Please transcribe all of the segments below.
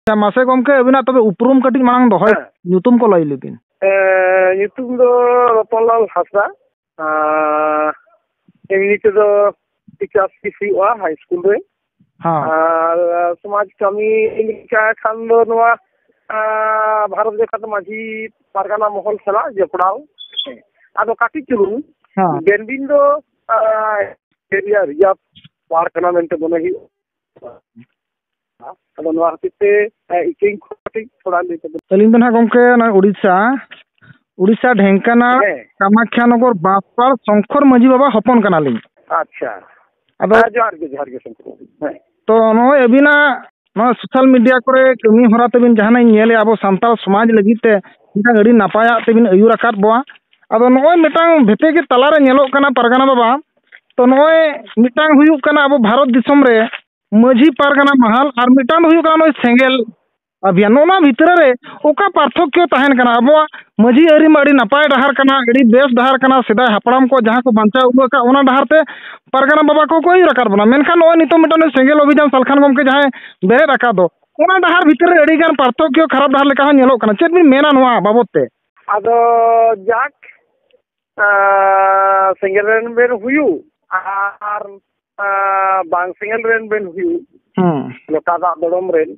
ᱟᱪᱪᱷᱟ ᱢᱟᱥᱮ ᱜᱚᱢᱠᱮ ᱟᱹᱵᱤᱱᱟᱜ ᱛᱚᱵᱮ ᱩᱯᱨᱩᱢ ᱠᱟᱹᱴᱤᱡ ᱢᱟᱲᱟᱝ ᱫᱚᱦᱚᱭ ᱦᱮᱸ᱾ ᱧᱩᱛᱩᱢ ᱠᱚ ᱞᱟᱹᱭ ᱞᱮᱵᱤᱱ ᱮᱸ, ᱧᱩᱛᱩᱢ ᱫᱚ ᱨᱚᱛᱚᱱᱞᱟᱞ ᱦᱟᱸᱥᱫᱟ ᱟᱨ ᱮᱢᱱᱤ ᱛᱮᱫᱚ ᱴᱤᱪᱟᱨ ᱥᱤᱯ ᱦᱩᱭᱩᱜᱼᱟ ᱦᱟᱭ ᱥᱠᱩᱞ ᱨᱮ ᱦᱮᱸ ᱟᱨ ᱥᱚᱢᱟᱡᱽ ᱠᱟᱹᱢᱤ ᱞᱮᱠᱟ ᱠᱷᱟᱱ ᱫᱚ ᱱᱚᱣᱟ ᱟᱸ, ᱵᱷᱟᱨᱚᱛ ᱡᱟᱠᱟᱛ ᱢᱟᱹᱡᱷᱤ ᱯᱟᱨᱜᱟᱱᱟ ᱢᱚᱦᱚᱞ ᱥᱟᱞᱟᱜ ᱡᱚᱯᱲᱟᱣ ᱦᱮᱸ᱾ ᱟᱫᱚ ᱠᱟᱹᱴᱤᱡ ᱪᱩᱞᱩᱝ ᱦᱮᱸ ᱰᱮᱱᱵᱤᱱ ᱫᱚ ᱮᱨᱤᱭᱟ ᱨᱤᱡᱟᱨᱵᱷ ᱯᱟᱨᱠ ᱠᱟᱱᱟ ᱢᱮᱱᱛᱮ ᱢᱚᱱᱮ ᱦᱩᱭᱩᱜᱼᱟ ᱟᱫᱚ ᱱᱚᱣᱟ ᱠᱷᱟᱹᱛᱤᱨ ᱛᱮ ᱤᱠᱟᱹᱧ ᱠᱷᱚᱡ ᱠᱟᱹᱴᱤᱡ ᱛᱷᱚᱲᱟ ᱞᱟᱹᱭ ᱛᱟᱵᱚᱱ ᱟᱹᱞᱤᱧ ᱫᱚ ᱱᱟᱦᱟᱜ ᱜᱚᱝᱠᱮ ᱚᱱᱟ ᱩᱲᱤᱥᱥᱟ ᱩᱲᱤᱥᱥᱟ ᱰᱷᱮᱝᱠᱟᱱᱟᱲ ᱦᱮᱸ ᱠᱟᱢᱟᱠᱷᱟᱱᱚᱜᱚᱨ ᱵᱟᱯᱟᱲ ᱥᱚᱝᱠᱚᱨ ᱢᱟᱹᱡᱷᱤ ᱵᱟᱵᱟ ᱦᱚᱯᱚᱱ ᱠᱟᱱᱟᱞᱤᱧ ᱟᱪᱪᱷᱟ ᱟᱫᱚ ᱦᱮᱸ ᱡᱚᱦᱟᱨ ᱜᱮ ᱡᱚᱦᱟᱨ ᱜᱮ ᱥᱚᱝᱠᱚᱨ ᱵᱟᱹᱵᱩ ᱦᱮᱸ ᱛᱚ ᱱᱚᱜᱼᱚᱭ ᱟᱹᱵᱤᱱᱟᱜ ᱱᱚᱣᱟ ᱥᱳᱥᱟᱞ ᱢᱤᱰᱤᱭᱟ ᱠᱚᱨᱮ ᱠᱟᱹᱢᱤ ᱦᱚᱨᱟ ᱛᱟᱹᱵᱤᱱ ᱡᱟᱦᱟᱱᱟᱜ ᱤᱧ ᱧᱮᱞᱮᱫᱼᱟ ᱟᱵᱚ ᱥᱟᱱᱛᱟᱲ ᱥᱚᱢᱟᱡᱽ ᱞᱟᱹᱜᱤᱫ ᱛᱮ ᱢᱤᱫᱴᱟᱝ ᱟᱹᱰᱤ ᱱᱟᱯᱟᱭᱟᱜ ᱛᱮᱵᱤᱱ ᱟᱹᱭᱩᱨ ᱟᱠᱟᱫ ᱵᱚᱣᱟ ᱟᱫᱚ ᱱᱚᱜᱼᱚᱭ ᱢᱤᱫᱴᱟᱝ ᱵᱷᱮᱯᱮ ᱜᱮ ᱛᱟᱞᱟᱨᱮ ᱧᱮᱞᱚᱜ ᱠᱟᱱᱟ ᱯᱟᱨᱜᱟᱱᱟ ᱵᱟᱵᱟ ᱛᱚ ᱱᱚᱜᱼᱚᱭ ᱢᱤᱫᱴᱟᱝ ᱦᱩᱭᱩᱜ ᱠᱟᱱᱟ ᱟᱵᱚ ᱵᱷᱟᱨᱚᱛ ᱫᱤᱥᱚᱢ ᱨᱮ ᱢᱟᱹᱡᱷᱤ ᱯᱟᱨᱜᱟᱱᱟ ᱢᱟᱦᱟᱞ ᱟᱨ ᱢᱤᱫᱴᱟᱝ ᱫᱚ ᱦᱩᱭᱩᱜ ᱠᱟᱱᱟ ᱱᱚᱜᱼᱚᱭ ᱥᱮᱸᱜᱮᱞ ᱟᱵᱷᱤᱭᱟᱱ ᱱᱚᱜᱼᱚ ᱱᱚᱣᱟ ᱵᱷᱤᱛᱨᱤ ᱨᱮ ᱚᱠᱟ ᱯᱟᱨᱛᱷᱚᱠᱠᱚ ᱛᱟᱦᱮᱱ ᱠᱟᱱᱟ ᱟᱵᱚᱣᱟᱜ ᱢᱟᱹᱡᱷᱤ ᱟᱹᱨᱤ ᱢᱟ ᱟᱹᱰᱤ ᱱᱟᱯᱟᱭ ᱰᱟᱦᱟᱨ ᱠᱟᱱᱟ ᱟᱹᱰᱤ ᱵᱮᱥ ᱰᱟᱦᱟᱨ ᱠᱟᱱᱟ ᱥᱮᱫᱟᱭ ᱦᱟᱯᱲᱟᱢ ᱠᱚ ᱡᱟᱦᱟᱸ ᱠᱚ ᱵᱟᱧᱪᱟᱣ ᱟᱹᱜᱩ ᱟᱠᱟᱫ ᱚᱱᱟ ᱰᱟᱦᱟᱨ ᱛᱮ ᱯᱟᱨᱜᱟᱱᱟ ᱵᱟᱵᱟ ᱠᱚᱠᱚ ᱟᱹᱭᱩᱨ ᱟᱠᱟᱫ ᱵᱚᱱᱟ ᱢᱮᱱᱠᱷᱟᱱ ᱱᱚᱜᱼᱚᱭ ᱱᱤᱛᱚᱜ ᱢᱤᱫᱴᱟᱝ ᱱᱩᱭ ᱥᱮᱸᱜᱮᱞ ᱚᱵᱷᱤᱡᱟᱱ ᱥᱟᱞᱠᱷᱟᱱ ᱜᱚᱢᱠᱮ ᱡᱟᱦᱟᱸᱭ ᱵᱮᱨᱮᱫ ᱟᱠᱟᱫ ᱫᱚ ᱚᱱᱟ ᱰᱟᱦᱟᱨ ᱵᱷᱤᱛᱨᱤ ᱨᱮ ᱟᱹᱰᱤ ᱜᱟᱱ ᱯᱟᱨᱛᱷᱚᱠᱠᱚ ᱠᱷᱟᱨᱟᱯ ᱰᱟᱦᱟᱨ ᱞᱮᱠᱟ ᱦᱚᱸ ᱧᱮᱞᱚᱜ ᱠᱟᱱᱟ ᱪᱮᱫ ᱵᱤᱱ ᱢᱮᱱᱟ ᱱᱚᱣᱟ ᱵᱟᱵᱚᱫ ᱛᱮ ᱟᱫᱚ ᱡᱟᱠ ᱥᱮᱸᱜᱮᱞ ᱨᱮᱱ ᱵᱮᱱ ᱦᱩᱭᱩᱜ ᱟᱨ ᱵᱟᱝ ᱥᱮᱸᱜᱮᱞ ᱨᱮᱱ ᱵᱮᱱ ᱦᱩᱭᱩᱜ ᱞᱚᱴᱟ ᱫᱟᱜ ᱫᱚᱲᱚᱢ ᱨᱮᱱ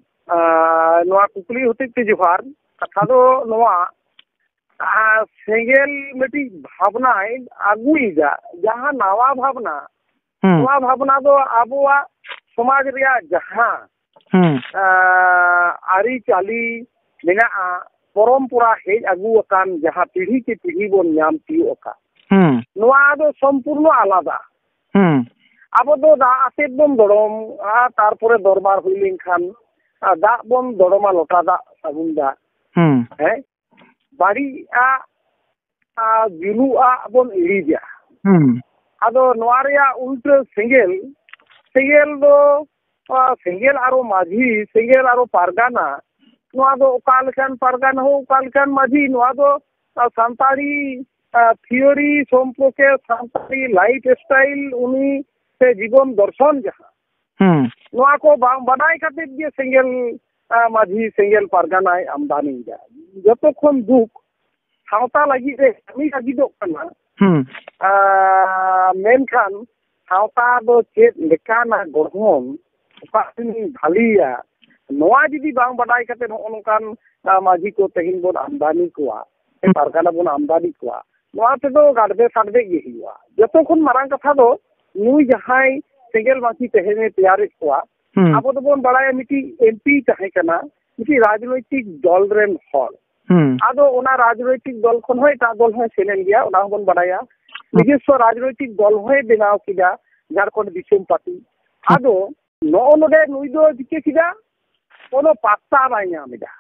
ᱱᱚᱣᱟ ᱠᱩᱠᱞᱤ ᱦᱚᱛᱮᱡ ᱛᱮ ᱡᱚᱦᱟᱨ ᱠᱟᱛᱷᱟ ᱫᱚ ᱱᱚᱣᱟ ᱥᱮᱸᱜᱮᱞ ᱢᱤᱫᱴᱤᱡ ᱵᱷᱟᱵᱽᱱᱟᱭ ᱟᱹᱜᱩᱭᱮᱫᱟ ᱡᱟᱦᱟᱸ ᱱᱟᱣᱟ ᱵᱷᱟᱵᱽᱱᱟ ᱱᱚᱣᱟ ᱵᱷᱟᱵᱽᱱᱟ ᱫᱚ ᱟᱵᱚᱣᱟᱜ ᱥᱚᱢᱟᱡᱽ ᱨᱮᱭᱟᱜ ᱡᱟᱦᱟᱸ ᱟᱹᱨᱤᱪᱟᱹᱞᱤ ᱢᱮᱱᱟᱜᱼᱟ ᱯᱚᱨᱚᱢᱯᱚᱨᱟ ᱦᱮᱡ ᱟᱹᱜᱩ ᱟᱠᱟᱱ ᱡᱟᱦᱟᱸ ᱯᱤᱲᱦᱤ ᱠᱮ ᱯᱤᱲᱦᱤ ᱵᱚᱱ ᱧᱟᱢ ᱛᱤᱭᱳᱜ ᱟᱠᱟᱫ ᱱᱚᱣᱟ ᱫᱚ ᱥᱚᱢᱯᱩᱨᱱᱚ ᱟᱞᱟᱫᱟ ᱟᱵᱚ ᱫᱚ ᱫᱟᱜ ᱟᱛᱮᱫ ᱵᱚᱱ ᱫᱚᱲᱚᱢᱟ ᱛᱟᱨᱯᱚᱨᱮ ᱫᱚᱨᱵᱟᱨ ᱦᱩᱭ ᱞᱮᱱᱠᱷᱟᱱ ᱫᱟᱜ ᱵᱚᱱ ᱫᱚᱲᱚᱢᱟ ᱞᱚᱴᱟ ᱫᱟᱜ ᱥᱟᱵᱚᱱ ᱫᱟᱜ ᱦᱮᱸ ᱵᱟᱹᱲᱤᱡ ᱟᱜ ᱟᱨ ᱡᱩᱞᱩᱜᱼᱟᱜ ᱵᱚᱱ ᱤᱲᱤᱡᱟ ᱦᱩᱸ ᱟᱫᱚ ᱱᱚᱣᱟ ᱨᱮᱭᱟᱜ ᱩᱞᱴᱟᱹ ᱥᱮᱸᱜᱮᱞ ᱥᱮᱸᱜᱮᱞ ᱫᱚ ᱥᱮᱸᱜᱮᱞ ᱟᱨᱚ ᱢᱟᱹᱡᱷᱤ ᱥᱮᱸᱜᱮᱞ ᱟᱨᱚ ᱯᱟᱨᱜᱟᱱᱟ ᱱᱚᱣᱟ ᱫᱚ ᱚᱠᱟ ᱞᱮᱠᱟᱱ ᱯᱟᱨᱜᱟᱱᱟ ᱦᱳ ᱚᱠᱟ ᱞᱮᱠᱟᱱ ᱢᱟᱹᱡᱷᱤ ᱱᱚᱣᱟ ᱫᱚ ᱥᱟᱱᱛᱟᱲᱤ ᱛᱷᱤᱭᱳᱨᱤ ᱥᱚᱢᱯᱚᱨᱠᱮ ᱥᱟᱱᱛᱟᱲᱤ ᱞᱟᱭᱤᱯᱷ ᱥᱴᱟᱭᱤᱞ ᱩᱱᱤ ᱥᱮ ᱡᱤᱵᱚᱱ ᱫᱚᱨᱥᱚᱱ ᱡᱟᱦᱟᱸ ᱦᱩᱸ ᱱᱚᱣᱟ ᱠᱚ ᱵᱟᱝ ᱵᱟᱰᱟᱭ ᱠᱟᱛᱮ ᱜᱮ ᱥᱮᱸᱜᱮᱞ ᱢᱟᱹᱡᱷᱤ ᱥᱮᱸᱜᱮᱞ ᱯᱟᱨᱜᱟᱱᱟᱭ ᱟᱢᱫᱟᱱᱤ ᱮᱫᱟ ᱡᱚᱛᱚ ᱠᱷᱚᱱ ᱫᱩᱠ ᱥᱟᱶᱛᱟ ᱞᱟᱹᱜᱤᱫ ᱨᱮ ᱠᱟᱹᱢᱤ ᱞᱟᱹᱜᱤᱫᱚᱜ ᱠᱟᱱᱟ ᱢᱮᱱᱠᱷᱟᱱ ᱥᱟᱶᱛᱟ ᱫᱚ ᱪᱮᱫ ᱞᱮᱠᱟᱱᱟᱜ ᱜᱚᱲᱦᱚᱱ ᱚᱠᱟ ᱛᱤᱱᱟᱹᱜ ᱵᱷᱟᱹᱞᱤᱭᱟ ᱱᱚᱣᱟ ᱡᱩᱫᱤ ᱵᱟᱝ ᱵᱟᱰᱟᱭ ᱠᱟᱛᱮ ᱱᱚᱜᱼᱚ ᱱᱚᱝᱠᱟᱱ ᱢᱟᱹᱡᱷᱤ ᱠᱚ ᱛᱮᱦᱮᱧ ᱵᱚᱱ ᱟᱢᱫᱟᱱᱤ ᱠᱚᱣᱟ ᱯᱟᱨᱜᱟᱱᱟ ᱵᱚᱱ ᱟᱢᱫᱟᱱᱤ ᱠᱚᱣᱟ ᱱᱚᱣᱟ ᱛᱮᱫᱚ ᱜᱟᱰᱵᱮ ᱥᱟᱰᱵᱮ ᱜᱮ ᱦᱩᱭᱩᱜᱼᱟ ᱡᱚᱛᱚ ᱠᱷᱚᱱ ᱢᱟᱨᱟᱝ ᱠᱟᱛᱷᱟ ᱫᱚ ᱱᱩᱭ ᱡᱟᱦᱟᱸᱭ ᱥᱮᱸᱜᱮᱞ ᱢᱟᱹᱪᱤ ᱛᱮᱦᱮᱧᱮ ᱛᱮᱭᱟᱨᱮᱫ ᱠᱚᱣᱟ ᱟᱵᱚ ᱫᱚᱵᱚᱱ ᱵᱟᱲᱟᱭᱟ ᱢᱤᱫᱴᱤᱡ ᱮᱢᱯᱤ ᱛᱟᱦᱮᱸ ᱠᱟᱱᱟ ᱢᱤᱫᱴᱤᱡ ᱨᱟᱡᱽᱱᱳᱭᱛᱤᱠ ᱫᱚᱞ ᱨᱮᱱ ᱦᱚᱲ ᱟᱫᱚ ᱚᱱᱟ ᱨᱟᱡᱽᱱᱳᱭᱛᱤᱠ ᱫᱚᱞ ᱠᱷᱚᱱ ᱦᱚᱸ ᱮᱴᱟᱜ ᱫᱚᱞ ᱦᱚᱸᱭ ᱥᱮᱱ ᱮᱱ ᱜᱮᱭᱟ ᱚᱱᱟ ᱦᱚᱸᱵᱚᱱ ᱵᱟᱲᱟᱭᱟ ᱱᱤᱡᱮᱥᱥᱚ ᱨᱟᱡᱽᱱᱳᱭᱛᱤᱠ ᱫᱚᱞ ᱦᱚᱸᱭ ᱵᱮᱱᱟᱣ ᱠᱮᱫᱟ ᱡᱷᱟᱲᱠᱷᱚᱸᱰ ᱫᱤᱥᱚᱢ ᱯᱟᱨᱴᱤ ᱟᱫᱚ ᱱᱚᱜᱼᱚ ᱱᱚᱰᱮ ᱱᱩᱭ ᱫᱚ ᱪᱤᱠᱟᱹ ᱠᱮᱫᱟ ᱠᱳᱱᱳ ᱯᱟᱛᱛᱟ ᱵᱟᱭ ᱧᱟᱢ ᱮᱫᱟ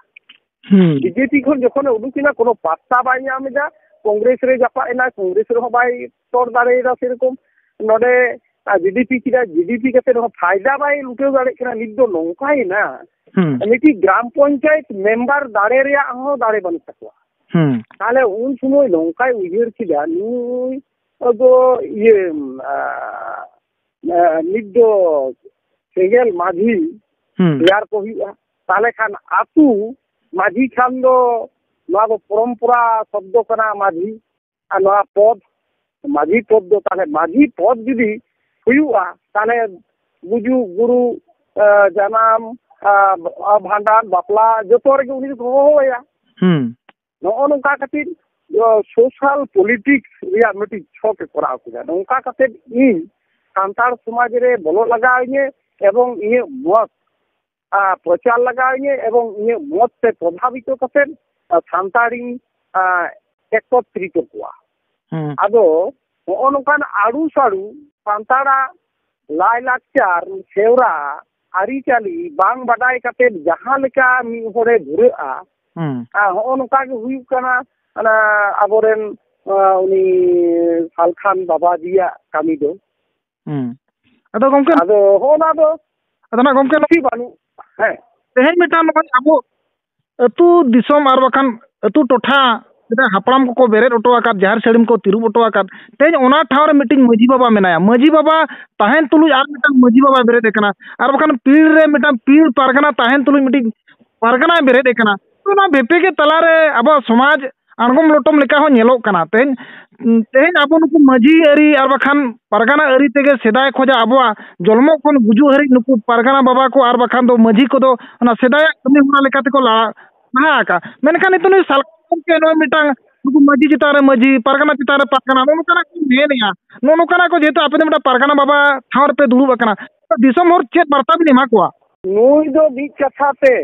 ᱵᱤᱡᱮᱯᱤ ᱠᱷᱚᱱ ᱡᱚᱠᱷᱚᱱᱮ ᱩᱰᱩᱠ ᱮᱱᱟ ᱠᱳᱱᱳ ᱯᱟᱛᱛᱟ ᱵᱟᱭ ᱧᱟᱢ ᱮᱫᱟ ᱠᱚᱝᱜᱨᱮᱥ ᱨᱮ ᱡᱟᱯᱟᱜ ᱮᱱᱟ ᱠᱚᱝᱜᱨᱮᱥ ᱨᱮᱦᱚᱸ ᱵᱟᱭ ᱛᱚᱨ ᱫᱟᱲᱮᱭᱟᱫᱟ ᱥᱮᱨᱚᱠᱚᱢ ᱱᱚᱰᱮ ᱡᱤᱰᱤᱯᱤ ᱠᱮᱫᱟ ᱡᱤᱰᱤᱯᱤ ᱠᱟᱛᱮ ᱨᱮᱦᱚᱸ ᱯᱷᱟᱭᱫᱟ ᱵᱟᱭ ᱞᱩᱴᱟᱹᱣ ᱫᱟᱲᱮᱭᱟᱜ ᱠᱟᱱᱟ ᱱᱤᱛ ᱫᱚ ᱱᱚᱝᱠᱟᱭᱮᱱᱟ ᱢᱤᱫᱴᱤᱡ ᱜᱨᱟᱢ ᱯᱚᱧᱪᱟᱭᱮᱛ ᱢᱮᱢᱵᱟᱨ ᱫᱟᱲᱮ ᱨᱮᱭᱟᱜ ᱦᱚᱸ ᱫᱟᱲᱮ ᱵᱟᱹᱱᱩᱜ ᱛᱟᱠᱚᱣᱟ ᱛᱟᱦᱞᱮ ᱩᱱ ᱥᱚᱢᱚᱭ ᱱᱚᱝᱠᱟᱭ ᱩᱭᱦᱟᱹᱨ ᱠᱮᱫᱟ ᱱᱩᱭ ᱫᱚ ᱤᱭᱟᱹ ᱱᱤᱛ ᱫᱚ ᱥᱮᱸᱜᱮᱞ ᱢᱟᱹᱡᱷᱤ ᱛᱮᱭᱟᱨ ᱠᱚ ᱦᱩᱭᱩᱜᱼᱟ ᱛᱟᱦᱚᱞᱮ ᱠᱷᱟᱱ ᱟᱹᱛᱩ ᱢᱟᱹᱡᱷᱤ ᱠᱷᱟᱱ ᱫᱚ ᱱᱚᱣᱟ ᱫᱚ ᱯᱚᱨᱚᱢᱯᱚᱨᱟ ᱥᱚᱵᱫᱚ ᱠᱟᱱᱟ ᱢᱟᱹᱡᱷᱤ ᱟᱨ ᱱᱚᱣᱟ ᱯᱚᱫ ᱢᱟᱹᱡᱷᱤ ᱯᱚᱫ ᱫᱚ ᱛᱟᱦᱚᱞᱮ ᱢᱟᱹᱡᱷᱤ ᱯᱚᱫ ᱡᱩᱫᱤ ᱦᱩᱭᱩᱜᱼᱟ ᱛᱟᱦᱚᱞᱮ ᱜᱩᱡᱩᱜ ᱜᱩᱨᱩ ᱡᱟᱱᱟᱢ ᱵᱷᱟᱸᱰᱟᱱ ᱵᱟᱯᱞᱟ ᱡᱚᱛᱚ ᱨᱮᱜᱮ ᱩᱱᱤ ᱫᱚᱠᱚ ᱦᱚᱦᱚ ᱟᱭᱟ ᱱᱚᱜᱼᱚ ᱱᱚᱝᱠᱟ ᱠᱟᱛᱮ ᱥᱳᱥᱟᱞ ᱯᱚᱞᱤᱴᱤᱠᱥ ᱨᱮᱭᱟᱜ ᱢᱤᱫᱴᱤᱡ ᱪᱷᱚᱠ ᱮ ᱠᱚᱨᱟᱣ ᱠᱮᱫᱟ ᱱᱚᱝᱠᱟ ᱠᱟᱛᱮ ᱤᱧ ᱥᱟᱱᱛᱟᱲ ᱥᱚᱢᱟᱡᱽ ᱨᱮ ᱵᱚᱞᱚᱜ ᱞᱟᱜᱟᱣ ᱤᱧᱟᱹ ᱮᱵᱚᱝ ᱤᱧᱟᱹᱜ ᱢᱚᱛ ᱯᱨᱚᱪᱟᱨ ᱞᱟᱜᱟᱣ ᱤᱧᱟᱹ ᱮᱵᱚᱝ ᱤᱧᱟᱹᱜ ᱢᱚᱛ ᱛᱮ ᱯᱨᱚᱵᱷᱟᱵᱤᱛᱚ ᱠᱟᱛᱮ ᱥᱟᱱᱛᱟᱲᱤᱧ ᱮᱠᱚᱛᱨᱤᱛᱚ ᱠᱚᱣᱟ ᱟᱫᱚ ᱱᱚᱜᱼᱚ ᱱᱚᱝᱠᱟᱱ ᱟᱹᱨᱩ ᱥᱟᱹᱨᱩ ᱥᱟᱱᱛᱟᱲᱟᱜ ᱞᱟᱭᱼᱞᱟᱠᱪᱟᱨ ᱥᱮᱣᱨᱟ ᱟᱹᱨᱤᱪᱟᱹᱞᱤ ᱵᱟᱝ ᱵᱟᱰᱟᱭ ᱠᱟᱛᱮ ᱡᱟᱦᱟᱸ ᱞᱮᱠᱟ ᱢᱤᱫ ᱦᱚᱲᱮ ᱫᱷᱩᱨᱟᱹᱜᱼᱟ ᱦᱚᱸᱜᱼᱚ ᱱᱚᱝᱠᱟ ᱜᱮ ᱦᱩᱭᱩᱜ ᱠᱟᱱᱟ ᱚᱱᱟ ᱟᱵᱚᱨᱮᱱ ᱩᱱᱤ ᱥᱟᱞᱠᱷᱟᱱ ᱵᱟᱵᱟᱡᱤᱭᱟᱜ ᱠᱟᱹᱢᱤ ᱫᱚ ᱟᱫᱚ ᱜᱚᱝᱠᱮ ᱟᱫᱚ ᱦᱚᱸᱜᱼᱚ ᱱᱟ ᱫᱚ ᱟᱫᱚ ᱱᱟ ᱜᱚᱝᱠᱮ ᱱᱚᱠᱤ ᱵᱟᱹᱱᱩᱜ ᱦᱮᱸ ᱛᱮᱦᱮᱧ ᱢᱤᱫᱴᱟᱝ ᱱᱚᱜᱼᱚᱭ ᱟᱵᱚ ᱟᱹᱛᱩ ᱫᱤᱥᱚᱢ ᱟᱨ ᱵᱟᱠᱷᱟᱱ ᱟᱹᱛᱩ ᱴᱚᱴᱷᱟ ᱥᱮᱫᱟᱭ ᱦᱟᱯᱲᱟᱢ ᱠᱚᱠᱚ ᱵᱮᱨᱮᱫ ᱦᱚᱴᱚ ᱟᱠᱟᱫ ᱡᱟᱦᱮᱨ ᱥᱟᱹᱲᱤᱢ ᱠᱚ ᱛᱤᱨᱩᱵ ᱦᱚᱴᱚ ᱟᱠᱟᱫ ᱛᱮᱦᱮᱧ ᱚᱱᱟ ᱴᱷᱟᱶ ᱨᱮ ᱢᱤᱫᱴᱤᱱ ᱢᱟᱹᱡᱷᱤ ᱵᱟᱵᱟ ᱢᱮᱱᱟᱭᱟ ᱢᱟᱹᱡᱷᱤ ᱵᱟᱵᱟ ᱛᱟᱦᱮᱱ ᱛᱩᱞᱩᱡ ᱟᱨ ᱢᱤᱫᱴᱟᱱ ᱢᱟᱹᱡᱷᱤ ᱵᱟᱵᱟᱭ ᱵᱮᱨᱮᱫ ᱟᱠᱟᱱᱟ ᱟᱨ ᱵᱟᱠᱷᱟᱱ ᱯᱤᱲ ᱨᱮ ᱢᱤᱫᱴᱟᱱ ᱯᱤᱲ ᱯᱟᱨᱜᱟᱱᱟ ᱛᱟᱦᱮᱱ ᱛᱩᱞᱩᱡ ᱢᱤᱫᱴᱤᱡ ᱯᱟᱨᱜᱟᱱᱟᱭ ᱵᱮᱨᱮᱫ ᱟᱠᱟᱱᱟ ᱚᱱᱟ ᱵᱮᱯᱮᱜᱮᱫ ᱛᱟᱞᱟᱨᱮ ᱟᱵᱚᱣᱟᱜ ᱥᱚᱢᱟᱡᱽ ᱟᱬᱜᱚᱢ ᱞᱚᱴᱚᱢ ᱞᱮᱠᱟ ᱦᱚᱸ ᱧᱮᱞᱚᱜ ᱠᱟᱱᱟ ᱛᱮᱦᱮᱧ ᱛᱮᱦᱮᱧ ᱟᱵᱚ ᱱᱩᱠᱩ ᱢᱟᱹᱡᱷᱤ ᱟᱹᱨᱤ ᱟᱨ ᱵᱟᱠᱷᱟᱱ ᱯᱟᱨᱜᱟᱱᱟ ᱟᱹᱨᱤ ᱛᱮᱜᱮ ᱥᱮᱫᱟᱭ ᱠᱷᱚᱱᱟᱜ ᱟᱵᱚᱣᱟᱜ ᱡᱚᱱᱢᱚ ᱠᱷᱚᱱ ᱜᱩᱡᱩᱜ ᱦᱟᱹᱨᱤᱡ ᱱᱩᱠᱩ ᱯᱟᱨᱜᱟᱱᱟ ᱵᱟᱵᱟ ᱠᱚ ᱟᱨ ᱵᱟᱠᱷᱟᱱ ᱫᱚ ᱢᱟᱹᱡᱷᱤ ᱠᱚᱫᱚ ᱚᱱᱟ ᱥᱮᱫᱟᱭᱟᱜ ᱠᱟᱹᱢᱤ ᱦᱚᱨᱟ ᱞᱮᱠᱟ ᱛᱮᱠᱚ ᱞᱟᱦᱟ ᱞᱟᱦᱟ ᱟᱠᱟᱜᱼᱟ ᱢᱮᱱᱠᱷᱟᱱ ᱱᱤᱛᱚᱜ ᱱᱩᱭ ᱥᱟᱞᱠᱷᱟᱱ ᱜᱚᱢᱠᱮ ᱱᱚᱜᱼᱚᱭ ᱢᱤᱫᱴᱟᱝ ᱱᱩᱠᱩ ᱢᱟᱹᱡᱷᱤ ᱪᱮᱛᱟᱱ ᱨᱮ ᱢᱟᱹᱡᱷᱤ ᱯᱟᱨᱜᱟᱱᱟ ᱪᱮᱛᱟᱱ ᱨᱮ ᱯᱟᱨᱜᱟᱱᱟ ᱱᱚᱜᱼᱚ ᱱᱚᱝᱠᱟᱱᱟᱜ ᱠᱚ ᱢᱮᱱᱮᱫᱼᱟ ᱱᱚᱜᱼᱚ ᱱᱚᱝᱠᱟᱱᱟᱜ ᱠᱚ ᱡᱮᱦᱮᱛᱩ ᱟᱯᱮ ᱫᱚ ᱢᱤᱫᱴᱟᱝ ᱯᱟᱨᱜᱟᱱᱟ ᱵᱟᱵᱟ ᱴᱷᱟᱶ ᱨᱮᱯᱮ ᱫᱩᱲᱩᱵ ᱟᱠᱟᱱᱟ ᱫᱤᱥᱚᱢ ᱦᱚᱲ ᱪᱮᱫ ᱵᱟᱨᱛᱟ ᱵᱤᱱ ᱮᱢᱟ ᱠᱚᱣᱟ ᱱᱩᱭ ᱫᱚ ᱢᱤᱫ ᱠᱟᱛᱷᱟ ᱛᱮ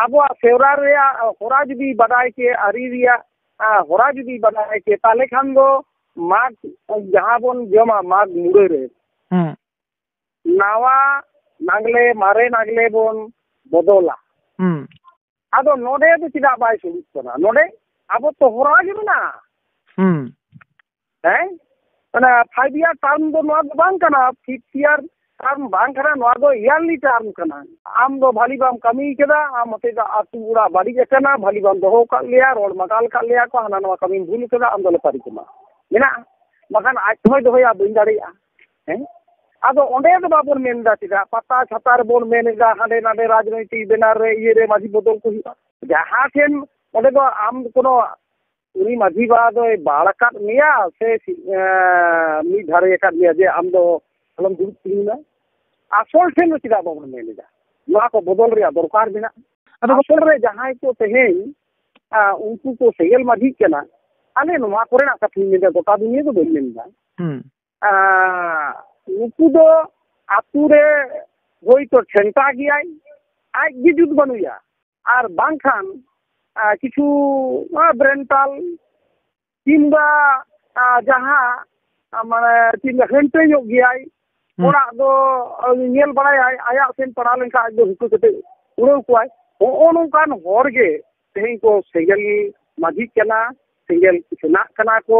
ᱟᱵᱚᱣᱟᱜ ᱥᱮᱨᱣᱟ ᱨᱮᱭᱟᱜ ᱦᱚᱨᱟ ᱡᱩᱫᱤ ᱵᱟᱰᱟᱭ ᱠᱮ ᱟᱹᱨᱤ ᱨᱮᱭᱟᱜ ᱦᱚᱨᱟ ᱡᱩᱫᱤ ᱵᱟᱰᱟᱭ ᱠᱮ ᱛᱟᱦᱚᱞᱮ ᱠᱷᱟᱱ ᱫᱚ ᱢᱟᱜᱽ ᱡᱟᱦᱟᱸ ᱵᱚᱱ ᱡᱚᱢᱟ ᱢᱟᱜᱽ ᱢᱩᱲᱟᱹ ᱨᱮ ᱱᱟᱣᱟ ᱱᱟᱜᱽᱞᱮ ᱢᱟᱨᱮ ᱱᱟᱜᱽᱞᱮ ᱵᱚᱱ ᱵᱚᱫᱚᱞᱟ ᱟᱫᱚ ᱱᱚᱰᱮ ᱫᱚ ᱪᱮᱫᱟᱜ ᱵᱟᱭ ᱥᱩᱨᱩᱜ ᱠᱟᱱᱟ ᱱᱚᱰᱮ ᱟᱵᱚ ᱛᱚ ᱦᱚᱨᱟ ᱜᱮ ᱢᱮᱱᱟᱜᱼᱟ ᱦᱮᱸ ᱚᱱᱟ ᱯᱷᱟᱭᱤᱵᱽ ᱤᱭᱟᱨ ᱴᱟᱨᱢ ᱫᱚ ᱱᱚᱣᱟ ᱫᱚ ᱵᱟᱝ ᱠᱟᱱᱟ ᱥᱤᱠᱥ ᱤᱭᱟᱨ ᱴᱟᱨᱢ ᱵᱟᱝ ᱠᱟᱱᱟ ᱱᱚᱣᱟ ᱫᱚ ᱤᱭᱟᱨᱞᱤ ᱴᱟᱨᱢ ᱠᱟᱱᱟ ᱟᱢ ᱫᱚ ᱵᱷᱟᱞᱮ ᱵᱟᱢ ᱠᱟᱹᱢᱤ ᱠᱟᱫᱟ ᱟᱢ ᱦᱚᱛᱮᱡ ᱛᱮ ᱟᱹᱛᱩ ᱚᱲᱟᱜ ᱵᱟᱹᱲᱤᱡ ᱟᱠᱟᱱᱟ ᱵᱷᱟᱞᱮ ᱵᱟᱢ ᱫᱚᱦᱚ ᱠᱟᱜ ᱞᱮᱭᱟ ᱨᱚᱲ ᱢᱟᱛᱟᱞ ᱠᱟᱜ ᱞᱮᱭᱟ ᱠᱚ ᱦᱟᱱᱟ ᱱᱚᱣᱟ ᱠᱟᱹᱢᱤᱢ ᱵᱷᱩᱞ ᱠᱟᱫᱟ ᱟᱢ ᱫᱚᱞᱮ ᱯᱟᱹᱨᱤ ᱠᱟᱢᱟ ᱢᱮᱱᱟᱜᱼᱟ ᱵᱟᱠᱷᱟᱱ ᱟᱡ ᱛᱮᱦᱚᱸᱭ ᱫᱚᱦᱚᱭᱟ ᱵᱟᱹᱧ ᱫᱟᱲᱮᱭᱟᱜᱼᱟ ᱦᱮᱸ ᱟᱫᱚ ᱚᱸᱰᱮ ᱫᱚ ᱵᱟᱵᱚᱱ ᱢᱮᱱ ᱮᱫᱟ ᱪᱮᱫᱟᱜ ᱯᱟᱛᱟ ᱪᱷᱟᱛᱟ ᱨᱮᱵᱚᱱ ᱢᱮᱱ ᱮᱫᱟ ᱦᱟᱸᱰᱮ ᱱᱟᱸᱰᱮ ᱨᱟᱡᱽᱱᱳᱭᱛᱤᱠ ᱵᱮᱱᱟᱨ ᱨᱮ ᱤᱭᱟᱹ ᱨᱮ ᱢᱟᱹᱡᱷᱤ ᱵᱚᱫᱚᱞ ᱠᱚ ᱦᱩᱭᱩᱜᱼᱟ ᱡᱟᱦᱟᱸ ᱴᱷᱮᱱ ᱚᱸᱰᱮ ᱫᱚ ᱟᱢ ᱠᱚᱱᱳ ᱩᱱᱤ ᱢᱟᱺᱡᱷᱤ ᱵᱟᱵᱟ ᱫᱚᱭ ᱵᱟᱲ ᱟᱠᱟᱫ ᱢᱮᱭᱟ ᱥᱮ ᱢᱤᱫ ᱫᱷᱟᱨᱮ ᱟᱠᱟᱫ ᱢᱮᱭᱟ ᱡᱮ ᱟᱢ ᱫᱚ ᱟᱞᱚᱢ ᱫᱩᱲᱩᱵ ᱛᱤᱧᱢᱟ ᱟᱥᱚᱞ ᱴᱷᱮᱱ ᱫᱚ ᱪᱮᱫᱟᱜ ᱵᱟᱵᱚᱱ ᱢᱮᱱ ᱮᱫᱟ ᱱᱚᱣᱟ ᱠᱚ ᱵᱚᱫᱚᱞ ᱨᱮᱭᱟᱜ ᱫᱚᱨᱠᱟᱨ ᱢᱮᱱᱟᱜᱼᱟ ᱟᱥᱚᱞ ᱨᱮ ᱡᱟᱦᱟᱸᱭ ᱠᱚ ᱛᱮᱦᱮᱧ ᱩᱱᱠᱩ ᱠᱚ ᱥᱮᱸᱜᱮᱞ ᱢᱟᱹᱡᱷᱤᱜ ᱠᱟᱱᱟ ᱟᱞᱮ ᱱᱚᱣᱟ ᱠᱚᱨᱮᱱᱟᱜ ᱠᱟᱛᱷᱟᱧ ᱢᱮᱱᱫᱟ ᱜᱚᱴᱟ ᱫᱩᱱᱤᱭᱟᱹ ᱫᱚ ᱵᱟᱹᱧ ᱢᱮᱱᱫᱟ ᱱᱩᱠᱩ ᱫᱚ ᱟᱛᱳ ᱨᱮ ᱦᱳᱭᱛᱳ ᱴᱷᱮᱱᱴᱟ ᱜᱮᱭᱟᱭ ᱟᱡᱜᱮ ᱡᱩᱛ ᱵᱟᱹᱱᱩᱭᱟ ᱟᱨ ᱵᱟᱝᱠᱷᱟᱱ ᱠᱤᱪᱷᱩ ᱵᱨᱮᱱᱴᱟᱞ ᱠᱤᱢᱵᱟ ᱡᱟᱦᱟᱸ ᱢᱟᱱᱮ ᱪᱮᱫ ᱦᱟᱹᱱᱴᱟᱹ ᱧᱚᱜ ᱜᱮᱭᱟᱭ ᱚᱲᱟᱜ ᱫᱚ ᱧᱮᱞ ᱵᱟᱲᱟᱭᱟᱭ ᱟᱭᱟᱜ ᱥᱮᱱ ᱯᱟᱲᱟᱣ ᱞᱮᱱᱠᱷᱟᱱ ᱟᱡ ᱫᱚ ᱦᱩᱠᱟᱹ ᱠᱟᱛᱮ ᱩᱲᱟᱹᱣ ᱠᱚᱣᱟᱭ ᱦᱚᱸᱜᱼᱚ ᱱᱚᱝᱠᱟᱱ ᱦᱚᱲ ᱜᱮ ᱛᱮᱦᱮᱧ ᱠᱚ ᱥᱮᱸᱜᱮᱞ ᱢᱟᱹᱡᱷᱤᱜ ᱠᱟᱱᱟ ᱥᱮᱸᱜᱮᱞ ᱥᱮᱱᱟᱜ ᱠᱟᱱᱟ ᱠᱚ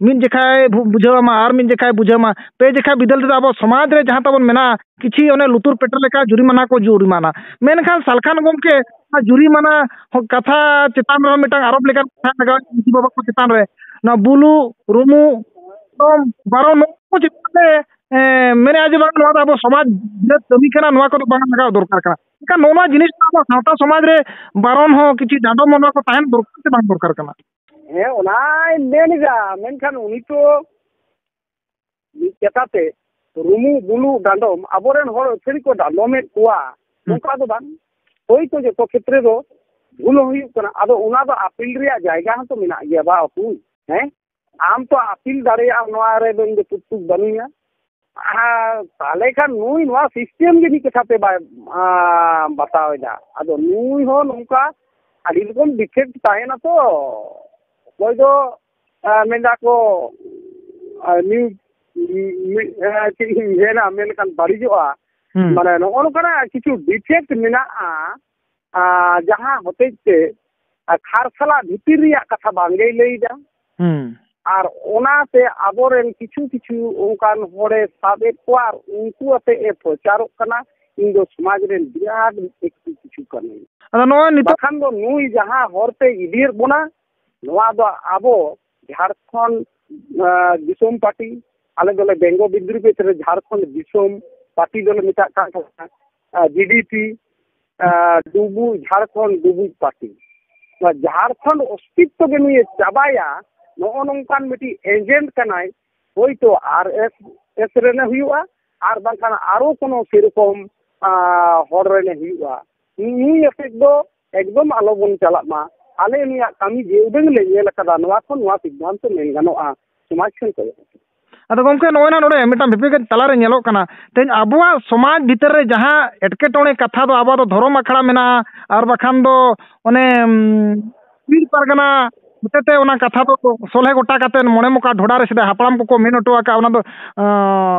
ᱢᱤᱫ ᱡᱚᱠᱷᱟᱭ ᱵᱩᱡᱷᱟᱹᱣ ᱟᱢᱟ ᱟᱨ ᱢᱤᱫ ᱡᱚᱠᱷᱟᱭ ᱵᱩᱡᱷᱟᱹᱣ ᱟᱢᱟ ᱯᱮ ᱡᱚᱠᱷᱟ ᱵᱤᱫᱟᱹᱞ ᱛᱮᱫᱚ ᱟᱵᱚ ᱥᱚᱢᱟᱡᱽ ᱨᱮ ᱡᱟᱦᱟᱸ ᱛᱟᱵᱚᱱ ᱢᱮᱱᱟᱜᱼᱟ ᱠᱤᱪᱷᱤ ᱚᱱᱮ ᱞᱩᱛᱩᱨ ᱯᱮᱴᱮ ᱞᱮᱠᱟ ᱡᱩᱨᱤᱢᱟᱱᱟ ᱠᱚ ᱡᱩᱨᱤᱢᱟᱱᱟ ᱢᱮᱱᱠᱷᱟᱱ ᱥᱟᱞᱠᱷᱟᱱ ᱜᱚᱢᱠᱮ ᱚᱱᱟ ᱡᱩᱨᱤᱢᱟᱱᱟ ᱠᱟᱛᱷᱟ ᱪᱮᱛᱟᱱ ᱨᱮᱦᱚᱸ ᱢᱤᱫᱴᱟᱝ ᱟᱨᱳᱯ ᱞᱮᱠᱟᱱ ᱠᱟᱛᱷᱟ ᱞᱟᱜᱟᱣ ᱮᱱᱟ ᱢᱟᱹᱡᱷᱤ ᱵᱟᱵᱟ ᱠᱚ ᱪᱮᱛᱟᱱ ᱨᱮ ᱱᱚᱣᱟ ᱵᱩᱞᱩᱜ ᱨᱩᱢᱩᱜ ᱫᱚᱝ ᱵᱟᱨᱚ ᱱᱚᱣᱟ ᱠᱚ ᱪᱮᱛᱟᱱ ᱨᱮ ᱢᱮᱱᱮᱫᱼᱟᱭ ᱡᱮ ᱵᱟᱝ ᱱᱚᱣᱟ ᱫᱚ ᱟᱵᱚ ᱥᱚᱢᱟᱡᱽ ᱵᱤᱨᱩᱫᱽ ᱠᱟᱹᱢᱤ ᱠᱟᱱᱟ ᱱᱚᱣᱟ ᱠᱚᱫᱚ ᱵᱟᱝ ᱞᱟᱜᱟᱣ ᱫᱚᱨᱠᱟᱨ ᱠᱟᱱᱟ ᱮᱱᱠᱷᱟᱱ ᱱᱚᱜᱼᱚ ᱱᱚᱣᱟ ᱡᱤᱱᱤᱥ ᱠᱚ ᱟᱵᱚᱣᱟᱜ ᱥᱟᱶᱛᱟ ᱥᱚᱢᱟᱡᱽ ᱨᱮ ᱵᱟᱨᱚᱱ ᱦᱚᱸ ᱠᱤᱪᱷᱩ ᱰᱟᱸᱰᱚᱢ ᱦᱚᱸ ᱱᱚᱣᱟ ᱠᱚ ᱛᱟᱦᱮᱱ ᱫᱚᱨᱠᱟᱨ ᱥᱮ ᱵᱟᱝ ᱫᱚᱨᱠᱟᱨ ᱠᱟᱱᱟ ᱦᱮᱸ ᱚᱱᱟᱭ ᱢᱮᱱ ᱮᱫᱟ ᱢᱮᱱᱠᱷᱟᱱ ᱩᱱᱤ ᱛᱚ ᱢᱤᱫ ᱠᱟᱛᱷᱟ ᱛᱮ ᱨᱩᱢᱩ ᱵᱩᱞᱩ ᱰᱟᱸᱰᱚᱢ ᱟᱵᱚᱨᱮᱱ ᱦᱚᱲ ᱟᱹᱛᱷᱟᱹᱲᱤ ᱠᱚ ᱰᱟᱸᱰᱚᱢᱮᱫ ᱠᱚᱣᱟ ᱱᱚᱝᱠᱟ ᱫᱚ ᱵᱟᱝ ᱦᱳᱭᱛᱳ ᱡᱚᱛᱚ ᱠᱷᱮᱛᱨᱮ ᱫᱚ ᱵᱷᱩᱞ ᱦᱚᱸ ᱦᱩᱭᱩᱜ ᱠᱟᱱᱟ ᱟᱫᱚ ᱚᱱᱟ ᱫᱚ ᱟᱯᱤᱞ ᱨᱮᱭᱟᱜ ᱡᱟᱭᱜᱟ ᱦᱚᱸᱛᱚ ᱢᱮᱱᱟᱜ ᱜᱮᱭᱟ ᱵᱟ ᱚᱯᱩᱭ ᱦᱮᱸ ᱟᱢ ᱛᱚ ᱟᱯᱤᱞ ᱫᱟᱲᱮᱭᱟᱜᱼᱟᱢ ᱱᱚᱣᱟ ᱨᱮᱫᱚ ᱤᱧ ᱫᱚ ᱯᱩᱠᱛᱩᱠ ᱵᱟᱹᱱᱩᱧᱟ ᱛᱟᱦᱚᱞᱮ ᱠᱷᱟᱱ ᱱᱩᱭ ᱱᱚᱣᱟ ᱥᱤᱥᱴᱮᱢ ᱜᱮ ᱢᱤᱫ ᱠᱟᱛᱷᱟ ᱛᱮ ᱵᱟᱭ ᱵᱟᱛᱟᱣ ᱮᱫᱟ ᱟᱫᱚ ᱱᱩᱭ ᱦᱚᱸ ᱱᱚᱝᱠᱟ ᱟᱹᱰᱤ ᱨᱚᱠᱚᱢ ᱰᱤᱯᱷᱮᱠᱴ ᱛᱟᱦᱮᱱᱟ ᱛᱚ ᱚᱠᱚᱭ ᱫᱚ ᱢᱮᱱ ᱮᱫᱟ ᱠᱚ ᱪᱮᱫ ᱤᱧ ᱢᱮᱱᱟ ᱢᱮᱱ ᱞᱮᱠᱷᱟᱱ ᱵᱟᱹᱲᱤᱡᱚᱜᱼᱟ ᱢᱟᱱᱮ ᱱᱚᱜᱼᱚ ᱱᱚᱝᱠᱟᱱᱟᱜ ᱠᱤᱪᱷᱩ ᱰᱤᱯᱷᱮᱠᱴ ᱢᱮᱱᱟᱜᱼᱟ ᱡᱟᱦᱟᱸ ᱦᱚᱛᱮᱡ ᱛᱮ ᱠᱷᱟᱨᱥᱟᱞᱟ ᱵᱷᱤᱛᱤᱨ ᱨᱮᱭᱟᱜ ᱠᱟᱛᱷᱟ ᱵᱟᱝᱜᱮᱭ ᱞᱟᱹᱭᱫᱟ ᱟᱨ ᱚᱱᱟᱛᱮ ᱟᱵᱚᱨᱮᱱ ᱠᱤᱪᱷᱩ ᱠᱤᱪᱷᱩ ᱚᱱᱠᱟᱱ ᱦᱚᱲᱮ ᱥᱟᱵ ᱮᱫ ᱠᱚᱣᱟ ᱟᱨ ᱩᱱᱠᱩ ᱟᱛᱮ ᱮ ᱯᱨᱚᱪᱟᱨᱚᱜ ᱠᱟᱱᱟ ᱤᱧ ᱫᱚ ᱥᱚᱢᱟᱡᱽ ᱨᱮᱱ ᱵᱤᱨᱟᱴ ᱵᱮᱠᱛᱤ ᱠᱤᱪᱷᱩ ᱠᱟᱹᱱᱟᱹᱧ ᱟᱫᱚ ᱱᱚᱣᱟ ᱱᱤᱛᱚᱜ ᱵᱟᱠᱷᱟᱱ ᱫᱚ ᱱᱩᱭ ᱡᱟᱦᱟᱸ ᱦᱚᱨᱛᱮ ᱤᱫᱤᱭᱮᱫ ᱵᱚᱱᱟ ᱱᱚᱣᱟ ᱫᱚ ᱟᱵᱚ ᱡᱷᱟᱲᱠᱷᱚᱸᱰ ᱫᱤᱥᱚᱢ ᱯᱟᱨᱴᱤ ᱟᱞᱮ ᱫᱚᱞᱮ ᱵᱮᱝᱜᱚ ᱵᱤᱫᱽᱨᱩᱯᱮᱛ ᱨᱮ ᱡᱷᱟᱲᱠᱷᱚᱸᱰ ᱫᱤᱥᱚᱢ ᱯᱟᱨᱴᱤ ᱫᱚᱞᱮ ᱢᱮᱛᱟᱜ ᱠᱟᱱ ᱛᱟᱦᱮᱸᱱᱟ ᱡᱤᱰᱤᱯᱤ ᱰᱩᱵᱩᱡ ᱡᱷᱟᱲᱠᱷᱚᱸᱰ ᱰᱩᱵᱩᱡ ᱯᱟᱨᱴᱤ ᱱᱚᱣᱟ ᱡᱷᱟᱲᱠᱷᱚᱸᱰ ᱚᱥᱛᱤᱛᱛᱚ ᱜᱮ ᱱᱩᱭᱮ ᱪᱟᱵᱟᱭᱟ ᱱᱚᱜᱼᱚ ᱱᱚᱝᱠᱟᱱ ᱢᱤᱫᱴᱤᱡ ᱮᱡᱮᱱᱴ ᱠᱟᱱᱟᱭ ᱦᱳᱭᱛᱳ ᱟᱨ ᱮᱥ ᱮᱥ ᱨᱮᱱᱮ ᱦᱩᱭᱩᱜᱼᱟ ᱟᱨ ᱵᱟᱝᱠᱷᱟᱱ ᱟᱨᱚ ᱠᱳᱱᱳ ᱥᱮᱨᱚᱠᱚᱢ ᱦᱚᱲ ᱨᱮᱱᱮ ᱦᱩᱭᱩᱜᱼᱟ ᱱᱩᱭ ᱟᱛᱮᱫ ᱫᱚ ᱮᱠᱫᱚᱢ ᱟᱞᱚ ᱵᱚᱱ ᱪᱟᱞᱟᱜ ᱢᱟ ᱟᱞᱮ ᱱᱩᱭᱟᱜ ᱠᱟᱹᱢᱤ ᱡᱮ ᱩᱰᱟᱹᱝ ᱞᱮ ᱧᱮᱞ ᱠᱟᱫᱟ ᱱᱚᱣᱟ ᱠᱷᱚᱱ ᱱᱚᱣᱟ ᱥᱤᱫᱽᱫᱷᱟᱱᱛᱚ ᱢᱮᱱ ᱜᱟᱱᱚᱜᱼᱟ ᱥᱚᱢᱟᱡᱽ ᱠᱷᱚᱱ ᱠᱚ ᱟᱫᱚ ᱜᱚᱢᱠᱮ ᱱᱚᱜᱼᱚᱭ ᱱᱟ ᱱᱚᱰᱮ ᱢᱤᱫᱴᱟᱝ ᱵᱤᱯᱮᱠᱮᱴ ᱛᱟᱞᱟᱨᱮ ᱧᱮᱞᱚᱜ ᱠᱟᱱᱟ ᱛᱮᱦᱮᱧ ᱟᱵᱚᱣᱟᱜ ᱥᱚᱢᱟᱡᱽ ᱵᱷᱤᱛᱟᱹᱨ ᱨᱮ ᱡᱟᱦᱟᱸ ᱮᱴᱠᱮᱴᱚᱬᱮ ᱠᱟᱛᱷᱟ ᱫᱚ ᱟᱵᱚᱣᱟᱜ ᱫᱚ ᱫᱷᱚᱨᱚᱢ ᱟᱠᱷᱲᱟ ᱢᱮᱱᱟᱜᱼᱟ ᱟᱨ ᱵᱟᱠᱷᱟᱱ ᱫᱚ ᱚᱱᱮ ᱯᱤᱲ ᱯᱟᱨᱜᱟᱱᱟ ᱦᱚᱛᱮᱛᱮ ᱚᱱᱟ ᱠᱟᱛᱷᱟ ᱫᱚ ᱥᱚᱞᱦᱮ ᱜᱚᱴᱟ ᱠᱟᱛᱮᱫ ᱢᱚᱬᱮ ᱢᱚᱠᱟ ᱰᱷᱚᱰᱟ ᱨᱮ ᱥᱮᱫᱟᱭ ᱦᱟᱯᱲᱟᱢ ᱠᱚᱠᱚ ᱢᱮᱱ ᱦᱚᱴᱚ ᱟᱠᱟᱫ ᱚᱱᱟ ᱫᱚ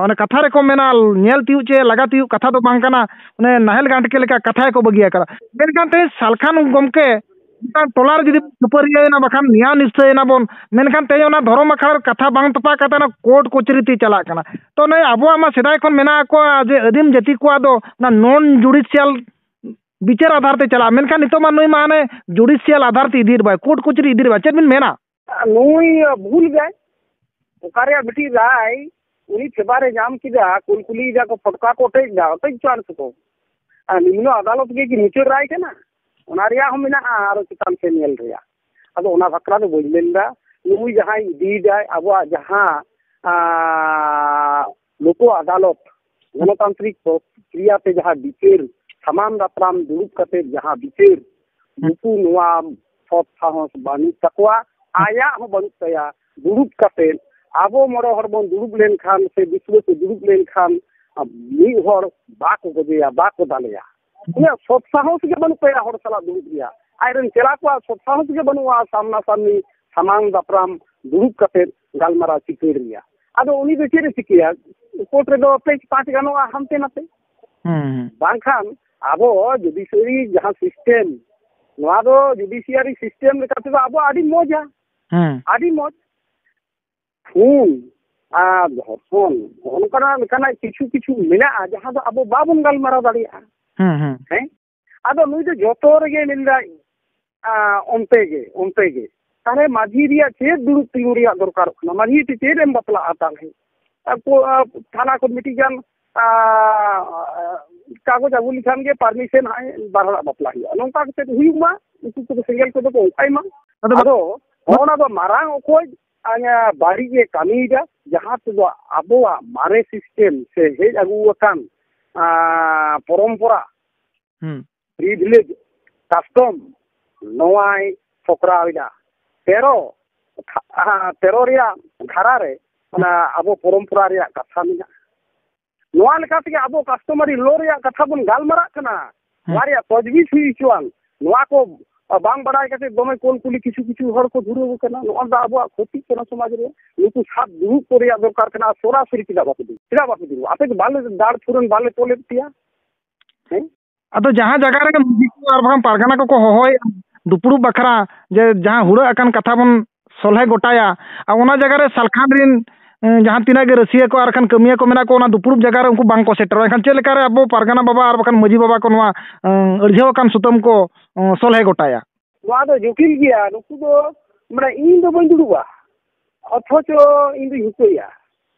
ᱚᱱᱮ ᱠᱟᱛᱷᱟ ᱨᱮᱠᱚ ᱢᱮᱱᱟ ᱧᱮᱞ ᱛᱤᱭᱩᱜ ᱪᱮ ᱞᱟᱜᱟ ᱛᱤᱭᱩᱜ ᱠᱟᱛᱷᱟ ᱫᱚ ᱵᱟᱝ ᱠᱟᱱᱟ ᱚᱱᱮ ᱱᱟᱦᱮᱞ ᱜᱟᱱᱴᱠᱮ ᱞᱮᱠᱟ ᱠᱟᱛᱷᱟ ᱜᱮᱠᱚ ᱵᱟᱹᱜᱤ ᱟᱠᱟᱫᱟ ᱢᱮᱱᱠᱷᱟᱱ ᱛᱮᱦᱮᱧ ᱥᱟᱞᱠᱷᱟᱱ ᱜᱚᱢᱠᱮ ᱢᱤᱫᱴᱟᱝ ᱴᱚᱞᱟ ᱨᱮ ᱡᱩᱫᱤ ᱠᱷᱟᱹᱯᱟᱹᱨᱤᱭᱟᱹᱭᱮᱱᱟ ᱵᱟᱠᱷᱟᱱ ᱱᱮᱭᱟᱣ ᱱᱤᱥᱪᱚᱭᱮᱱᱟ ᱵᱚᱱ ᱢᱮᱱᱠᱷᱟᱱ ᱛᱮᱦᱮᱧ ᱚᱱᱟ ᱫᱷᱚᱨᱚᱢ ᱟᱠᱷᱲᱟ ᱨᱮ ᱠᱟᱛᱷᱟ ᱵᱟᱝ ᱛᱚᱯᱟᱜ ᱠᱟᱛᱮ ᱚᱱᱟ ᱠᱳᱨᱴ ᱠᱚᱪᱟᱹᱨᱤ ᱛᱮ ᱪᱟᱞᱟᱜ ᱠᱟᱱᱟ ᱛᱚ ᱱᱩᱭ ᱟᱵᱚᱣᱟᱜ ᱢᱟ ᱥᱮᱫᱟᱭ ᱠᱷᱚᱱ ᱢᱮᱱᱟᱜ ᱠᱚᱣᱟ ᱡᱮ ᱟᱹᱫᱤᱢ ᱡᱟᱹᱛᱤ ᱠᱚᱣᱟᱜ ᱫᱚ ᱚᱱᱟ ᱱᱚᱱ ᱡᱩᱰᱤᱥᱤᱭᱟᱞ ᱵᱤᱪᱟᱹᱨ ᱟᱫᱷᱟᱨ ᱛᱮ ᱪᱟᱞᱟᱜᱼᱟ ᱢᱮᱱᱠᱷᱟᱱ ᱱᱤᱛᱚᱜ ᱢᱟ ᱱᱩᱭ ᱢᱟ ᱦᱟᱱᱮ ᱡᱩᱰᱤᱥᱤᱭᱟᱞ ᱟᱫᱷᱟᱨ ᱛᱮ ᱤᱫᱤᱭᱮᱫ ᱵᱚᱱᱟᱭ ᱠᱳᱨᱴ ᱠᱚᱪᱟᱹᱨᱤ ᱤᱫᱤᱭᱮᱫ ᱵᱚᱱᱟᱭ ᱪᱮᱫ ᱵᱤᱱ ᱢᱮᱱᱟ ᱱᱩᱭ ᱵᱷᱩᱞ ᱜᱮᱭ ᱚᱠᱟ ᱨᱮᱭᱟᱜ ᱢᱤᱫᱴᱤᱡ ᱨᱟᱭ ᱩᱱᱤ ᱯᱷᱮᱵᱟᱨᱮ ᱧᱟᱢ ᱠᱮᱫᱟ ᱠᱩᱞᱠᱩᱞᱤ ᱡᱟᱠᱚ ᱯᱷᱚᱴᱠᱟ ᱠᱚ ᱚᱴᱮᱡ ᱫᱟ ᱚᱴᱮᱡ ᱦᱚᱪᱚᱣᱟᱱ ᱥᱮᱠᱚ ᱟᱨ ᱱᱤᱢᱱᱚ ᱟᱫᱟᱞᱚᱛ ᱜᱮ ᱢᱩᱪᱟᱹᱫ ᱨᱟᱭ ᱠᱟᱱᱟ ᱚᱱᱟ ᱨᱮᱭᱟᱜ ᱦᱚᱸ ᱢᱮᱱᱟᱜᱼᱟ ᱟᱨᱚ ᱪᱮᱛᱟᱱ ᱥᱮᱫ ᱧᱮᱞ ᱨᱮᱭᱟᱜ ᱟᱫᱚ ᱚᱱᱟ ᱵᱟᱠᱷᱨᱟ ᱫᱚ ᱵᱟᱹᱧ ᱢᱮᱱᱫᱟ ᱱᱩᱭ ᱡᱟᱦᱟᱸᱭ ᱤᱫᱤᱭᱮᱫᱟᱭ ᱟᱵᱚᱣᱟᱜ ᱡᱟᱦᱟᱸ ᱞᱚᱠᱚ ᱟᱫᱟᱞᱚᱛ ᱜᱚᱱᱚᱛᱟᱱᱛᱨᱤᱠ ᱯᱨᱚᱠᱨᱤᱭᱟ ᱛᱮ ᱡᱟᱦᱟᱸ ᱵᱤᱪᱟᱹᱨ ᱥᱟᱢᱟᱝ ᱫᱟᱯᱨᱟᱢ ᱫᱩᱲᱩᱵ ᱠᱟᱛᱮ ᱡᱟᱦᱟᱸ ᱵᱤᱪᱟᱹᱨ ᱱᱩᱠᱩ ᱱᱚᱣᱟ ᱥᱚᱛ ᱥᱟᱦᱚᱥ ᱵᱟᱹᱱᱩᱜ ᱛᱟᱠᱚᱣᱟ ᱟᱭᱟᱜ ᱦᱚᱸ ᱵᱟᱹᱱᱩᱜ ᱛᱟᱭᱟ ᱫᱩᱲᱩᱵ ᱠᱟᱛᱮ ᱟᱵᱚ ᱢᱚᱬᱮ ᱦᱚᱲ ᱵᱚᱱ ᱫᱩᱲᱩᱵ ᱞᱮᱱᱠᱷᱟᱱ ᱥᱮ ᱫᱤᱥᱣᱟᱹ ᱠᱚ ᱫᱩᱲᱩᱵ ᱞᱮᱱᱠᱷᱟᱱ ᱢᱤᱫ ᱦᱚᱲ ᱵᱟᱠᱚ ᱜᱚᱡᱮᱭᱟ ᱵᱟᱠᱚ ᱫᱟᱞᱮᱭᱟ ᱩᱱᱟᱹᱜ ᱥᱚᱛ ᱥᱟᱦᱚᱥ ᱜᱮ ᱵᱟᱹᱱᱩᱜ ᱛᱟᱭᱟ ᱦᱚᱲ ᱥᱟᱞᱟᱜ ᱫᱩᱲᱩᱵ ᱨᱮᱭᱟᱜ ᱟᱡᱨᱮᱱ ᱪᱮᱞᱟ ᱠᱚᱣᱟᱜ ᱥᱚᱛ ᱥᱟᱦᱚᱥ ᱜᱮ ᱵᱟᱹᱱᱩᱜᱼᱟ ᱥᱟᱢᱱᱟ ᱥᱟᱢᱱᱤ ᱥᱟᱢᱟᱝ ᱫᱟᱯᱨᱟᱢ ᱫᱩᱲᱩᱵ ᱠᱟᱛᱮ ᱜᱟᱞᱢᱟᱨᱟᱣ ᱪᱤᱠᱟᱹᱲ ᱨᱮᱭᱟᱜ ᱟᱫᱚ ᱩᱱᱤ ᱫᱚ ᱪᱮᱫ ᱮ ᱪᱤᱠᱟᱹᱭᱟ ᱠᱳᱨᱴ ᱨᱮᱫᱚ ᱯᱮᱡᱽ ᱯᱟᱸᱪ ᱜᱟᱱᱚᱜᱼᱟ ᱦᱟᱱᱛᱮ ᱱᱟᱛᱮ ᱵᱟᱝᱠᱷᱟᱱ ᱟᱵᱚ ᱡᱩᱰᱤᱥᱤᱭᱟᱨᱤ ᱡᱟᱦᱟᱸ ᱥᱤᱥᱴᱮᱢ ᱱᱚᱣᱟ ᱫᱚ ᱡᱩᱰᱤᱥᱤᱭᱟᱨᱤ ᱥᱤᱥᱴᱮᱢ ᱞᱮᱠᱟᱛᱮᱫᱚ ᱟᱵᱚ ᱟᱹᱰᱤ ᱢᱚᱡᱟ ᱟᱹᱰᱤ ᱢᱚᱡᱽ ᱠᱷᱩᱱ ᱟᱨ ᱫᱷᱚᱨᱥᱚᱱ ᱱᱚᱜᱼᱚ ᱱᱚᱝᱠᱟᱱᱟᱜ ᱞᱮᱠᱟᱱᱟᱜ ᱠᱤᱪᱷᱩ ᱠᱤᱪᱷᱩ ᱢᱮᱱᱟᱜᱼᱟ ᱡᱟᱦᱟᱸ ᱫᱚ ᱟᱵᱚ ᱵᱟᱵᱚᱱ ᱜᱟᱞᱢᱟᱨᱟᱣ ᱫᱟᱲᱮᱭᱟᱜᱼᱟ ᱦᱮᱸ ᱟᱫᱚ ᱱᱩᱭ ᱫᱚ ᱡᱚᱛᱚ ᱨᱮᱜᱮ ᱢᱮᱱᱫᱟ ᱚᱱᱛᱮ ᱜᱮ ᱚᱱᱛᱮ ᱜᱮ ᱛᱟᱦᱚᱞᱮ ᱢᱟᱹᱡᱷᱤ ᱨᱮᱭᱟᱜ ᱪᱮᱫ ᱫᱩᱲᱩᱵ ᱛᱤᱸᱜᱩ ᱨᱮᱭᱟᱜ ᱫᱚᱨᱠᱟᱨᱚᱜ ᱠᱟᱱᱟ ᱢᱟᱹᱡᱷᱤ ᱛᱮ ᱪᱮᱫ ᱮᱢ ᱵᱟᱯᱞᱟᱜᱼᱟ ᱛᱟᱦᱚᱞᱮ ᱛᱷᱟᱱᱟ ᱠᱷᱚᱱ ᱢᱤᱫᱴᱤᱡ ᱜᱟᱱ ᱠᱟᱜᱚᱡᱽ ᱟᱹᱜᱩ ᱞᱮᱠᱷᱟᱱ ᱜᱮ ᱯᱟᱨᱢᱤᱥᱚᱱ ᱦᱟᱸᱜ ᱵᱟᱨ ᱦᱚᱲᱟᱜ ᱵᱟᱯᱞᱟ ᱦᱩᱭᱩᱜᱼᱟ ᱱᱚᱝᱠᱟ ᱠᱟᱛᱮ ᱦᱩᱭᱩᱜ ᱢᱟ ᱩᱱᱠᱩ ᱠᱚᱫᱚ ᱥᱮᱸᱜᱮᱞ ᱠᱚᱫᱚ ᱠᱚ ᱚᱱᱠᱟᱭ ᱢᱟ ᱟᱫᱚ ᱚᱱᱟ ᱫᱚ ᱢᱟᱨᱟᱝ ᱚᱠᱚᱡ ᱟᱭᱟᱜ ᱵᱟᱹᱲᱤᱡ ᱮ ᱠᱟᱹᱢᱤᱭᱮᱫᱟ ᱡᱟᱦᱟᱸ ᱛᱮᱫᱚ ᱟᱵᱚᱣᱟᱜ ᱢᱟᱨᱮ ᱥᱤᱥᱴᱮᱢ ᱥᱮ ᱦᱮᱡ ᱟᱹᱜᱩ ᱟᱠᱟᱱ ᱯᱚᱨᱚᱢᱯᱚᱨᱟ ᱯᱨᱤᱵᱷᱤᱞᱮᱡᱽ ᱠᱟᱥᱴᱚᱢ ᱱᱚᱣᱟᱭ ᱥᱚᱠᱲᱟᱣᱮᱫᱟ ᱛᱮᱨᱚ ᱛᱮᱨᱚ ᱨᱮᱭᱟᱜ ᱫᱷᱟᱨᱟ ᱨᱮ ᱚᱱᱟ ᱟᱵᱚ ᱯᱚᱨᱚᱢᱯᱚᱨᱟ ᱨᱮᱭᱟᱜ ᱠᱟᱛᱷᱟ ᱢᱮᱱᱟᱜᱼᱟ ᱱᱚᱣᱟ ᱞᱮᱠᱟ ᱛᱮᱜᱮ ᱟᱵᱚ ᱠᱟᱥᱴᱚᱢᱟᱨᱤ ᱞᱳ ᱨᱮᱭᱟᱜ ᱠᱟᱛᱷᱟ ᱵᱚᱱ ᱜᱟᱞᱢᱟᱨᱟᱜ ᱠᱟᱱᱟ ᱱᱚᱣᱟ ᱨᱮᱭᱟᱜ ᱛᱚᱡᱽᱵᱤᱡ ᱦᱩᱭ ᱦᱚᱪᱚᱣᱟᱱ ᱱᱚᱣᱟ ᱠᱚ ᱵᱟᱝ ᱵᱟᱲᱟᱭ ᱠᱟᱛᱮ ᱫᱚᱢᱮ ᱠᱚᱞ ᱠᱩᱞᱤ ᱠᱤᱪᱷᱩ ᱠᱤᱪᱷᱩ ᱦᱚᱲ ᱠᱚ ᱫᱷᱩᱨᱟᱹᱣ ᱟᱠᱟᱱᱟ ᱱᱚᱣᱟ ᱫᱚ ᱟᱵᱚᱣᱟᱜ ᱠᱷᱚᱛᱤᱜ ᱠᱟᱱᱟ ᱥᱚᱢᱟᱡᱽ ᱨᱮ ᱱᱩᱠᱩ ᱥᱟᱵ ᱫᱩᱲᱩᱵ ᱠᱚ ᱨᱮᱭᱟᱜ ᱫᱚᱨᱠᱟᱨ ᱠᱟᱱᱟ ᱥᱚᱨᱟᱥᱚᱨᱤ ᱪᱮᱫᱟᱜ ᱵᱟᱠᱚ ᱫᱩᱲᱩᱵ ᱪᱮᱫᱟᱜ ᱵᱟᱠᱚ ᱫᱩᱲᱩᱵ ᱟᱯᱮ ᱫᱚ ᱵᱟᱞᱮ ᱫᱟᱲ ᱯᱷᱩᱨᱟᱹᱱ ᱵᱟᱞᱮ ᱛᱚᱞᱮᱫ ᱯᱮᱭᱟ ᱦᱮᱸ ᱟᱫᱚ ᱡᱟᱦᱟᱸ ᱡᱟᱭᱜᱟ ᱨᱮᱜᱮ ᱢᱟᱹᱡᱷᱤ ᱠᱚ ᱟᱨ ᱵᱟᱝ ᱯᱟᱨᱜᱟᱱᱟ ᱠᱚᱠᱚ ᱦᱚᱦᱚᱭᱮᱫ ᱫᱩᱯᱲᱩᱵ ᱵᱟᱠᱷᱨᱟ ᱡᱮ ᱡᱟᱦᱟᱸ ᱦᱩᱲᱟᱹᱜ ᱟᱠᱟᱱ ᱠᱟᱛᱷᱟ ᱵᱚᱱ ᱥᱚᱞᱦᱮ ᱜᱚᱴᱟᱭᱟ ᱟᱨ ᱚᱱᱟ ᱡᱟᱭᱜᱟ ᱨᱮ ᱥᱟᱞᱠᱷᱟᱱ ᱨᱮᱱ ᱮᱸ, ᱡᱟᱦᱟᱸ ᱛᱤᱱᱟᱹᱜ ᱜᱮ ᱨᱟᱹᱥᱤᱭᱟᱹ ᱠᱚ ᱟᱨ ᱠᱷᱟᱱ ᱠᱟᱹᱢᱤᱭᱟᱹ ᱠᱚ ᱢᱮᱱᱟᱜ ᱠᱚ ᱚᱱᱟ ᱫᱩᱯᱲᱩᱵ ᱡᱟᱭᱜᱟ ᱨᱮ ᱩᱱᱠᱩ ᱵᱟᱝ ᱠᱚ ᱥᱮᱴᱮᱨᱚᱜᱼᱟ ᱮᱱᱠᱷᱟᱱ ᱪᱮᱫ ᱞᱮᱠᱟᱨᱮ ᱟᱵᱚ ᱯᱟᱨᱜᱟᱱᱟ ᱵᱟᱵᱟ ᱟᱨ ᱵᱟᱠᱷᱟᱱ ᱢᱟᱹᱡᱷᱤ ᱵᱟᱵᱟ ᱠᱚ ᱱᱚᱣᱟ ᱮᱸ, ᱟᱹᱲᱡᱷᱟᱹᱣ ᱟᱠᱟᱱ ᱥᱩᱛᱟᱹᱢ ᱠᱚ ᱮᱸ, ᱥᱚᱞᱦᱮ ᱜᱚᱴᱟᱭᱟ ᱱᱚᱣᱟ ᱫᱚ ᱡᱚᱴᱤᱞ ᱜᱮᱭᱟ ᱱᱩᱠᱩ ᱫᱚ ᱢᱟᱱᱮ ᱤᱧ ᱫᱚ ᱵᱟᱹᱧ ᱫᱩᱲᱩᱵᱼᱟ ᱚᱛᱷᱚᱪᱚ ᱤᱧ ᱫᱩᱧ ᱦᱩᱠᱟᱹᱭᱟ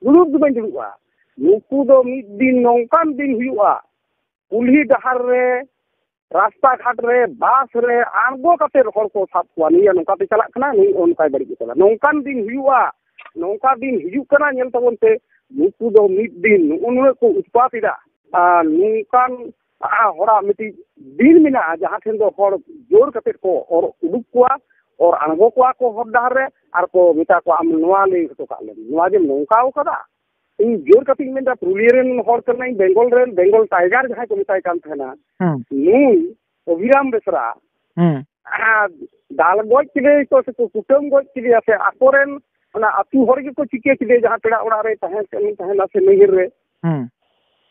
ᱫᱩᱲᱩᱵ ᱫᱚ ᱵᱟᱹᱧ ᱫᱩᱲᱩᱵᱼᱟ ᱱᱩᱠᱩ ᱫᱚ ᱢᱤᱫ ᱫᱤᱱ ᱱᱚᱝᱠᱟᱱ ᱫᱤᱱ ᱦᱩᱭᱩᱜᱼᱟ ᱠᱩᱞᱦᱤ ᱰᱟᱦᱟᱨ ᱨᱮ ᱨᱟᱥᱛᱟ ᱜᱷᱟᱴ ᱨᱮ ᱵᱟᱥ ᱨᱮ ᱟᱬᱜᱚ ᱠᱟᱛᱮ ᱦᱚᱲ ᱠᱚ ᱥᱟᱵ ᱠᱚᱣᱟ ᱱᱩᱭ ᱱᱚᱝᱠᱟᱛᱮ ᱪᱟᱞᱟᱜ ᱠᱟᱱᱟ ᱱᱩᱭ ᱚᱱᱠᱟᱭ ᱵᱟᱹᱲᱤᱡ ᱟᱠᱟᱫᱟ ᱱᱚᱝᱠᱟᱱ ᱫᱤᱱ ᱦᱩᱭᱩᱜᱼᱟ ᱱᱚᱝᱠᱟ ᱫᱤᱱ ᱦᱤᱡᱩᱜ ᱠᱟᱱᱟ ᱧᱮᱞ ᱛᱟᱵᱚᱱ ᱯᱮ ᱱᱩᱠᱩ ᱫᱚ ᱢᱤᱫ ᱫᱤᱱ ᱱᱩᱜᱼᱩ ᱱᱩᱱᱟᱹᱜ ᱠᱚ ᱩᱛᱯᱟᱛ ᱮᱫᱟ ᱟᱨ ᱱᱚᱝᱠᱟᱱ ᱦᱚᱲᱟᱜ ᱢᱤᱫᱴᱤᱡ ᱫᱤᱱ ᱢᱮᱱᱟᱜᱼᱟ ᱡᱟᱦᱟᱸ ᱴᱷᱮᱱ ᱫᱚ ᱦᱚᱲ ᱡᱳᱨ ᱠᱟᱛᱮ ᱠᱚ ᱚᱨ ᱩᱰᱩᱠ ᱠᱚᱣᱟ ᱚᱨ ᱟᱬᱜᱚ ᱠᱚᱣᱟ ᱠᱚ ᱦᱚᱨ ᱰᱟᱦᱟᱨ ᱨᱮ ᱟᱨ ᱠᱚ ᱢᱮᱛᱟ ᱠᱚᱣᱟ ᱟᱢ ᱱᱚᱣᱟ ᱞᱟᱹᱭ ᱦᱚᱴᱚ ᱠᱟᱜ ᱞᱮᱢ ᱱᱚᱣᱟ ᱡᱮᱢ ᱱᱚᱝᱠᱟᱣ ᱠᱟᱫᱟ ᱤᱧ ᱡᱳᱨ ᱠᱟᱛᱮ ᱤᱧ ᱢᱮᱱᱫᱟ ᱯᱩᱨᱩᱞᱤᱭᱟᱹ ᱨᱮᱱ ᱦᱚᱲ ᱠᱟᱱᱟᱧ ᱵᱮᱝᱜᱚᱞ ᱨᱮᱱ ᱵᱮᱝᱜᱚᱞ ᱴᱟᱭᱜᱟᱨ ᱡᱟᱦᱟᱸᱭ ᱠᱚ ᱢᱮᱛᱟᱭ ᱠᱟᱱ ᱛᱟᱦᱮᱱᱟ ᱱᱩᱭ ᱚᱵᱷᱤᱨᱟᱢ ᱵᱮᱥᱨᱟ ᱫᱟᱞ ᱜᱚᱡ ᱠᱮᱫᱮᱭᱟ ᱠᱚ ᱥᱮ ᱠᱩᱴᱟᱹᱢ ᱜᱚᱡ ᱠᱮᱫᱮᱭᱟ ᱥᱮ ᱟᱠᱚᱨᱮᱱ ᱚᱱᱟ ᱟᱹᱛᱩ ᱦᱚᱲ ᱜᱮᱠᱚ ᱪᱤᱠᱟᱹ ᱠᱮᱫᱮᱭᱟ ᱡᱟᱦᱟᱸ ᱯᱮᱲᱟ ᱚᱲᱟᱜ ᱨᱮ ᱛᱟᱦᱮᱸ ᱠᱟᱱ ᱛᱟᱦᱮᱱᱟ ᱥᱮ ᱱᱟᱹᱭᱦᱟᱹᱨ ᱨᱮ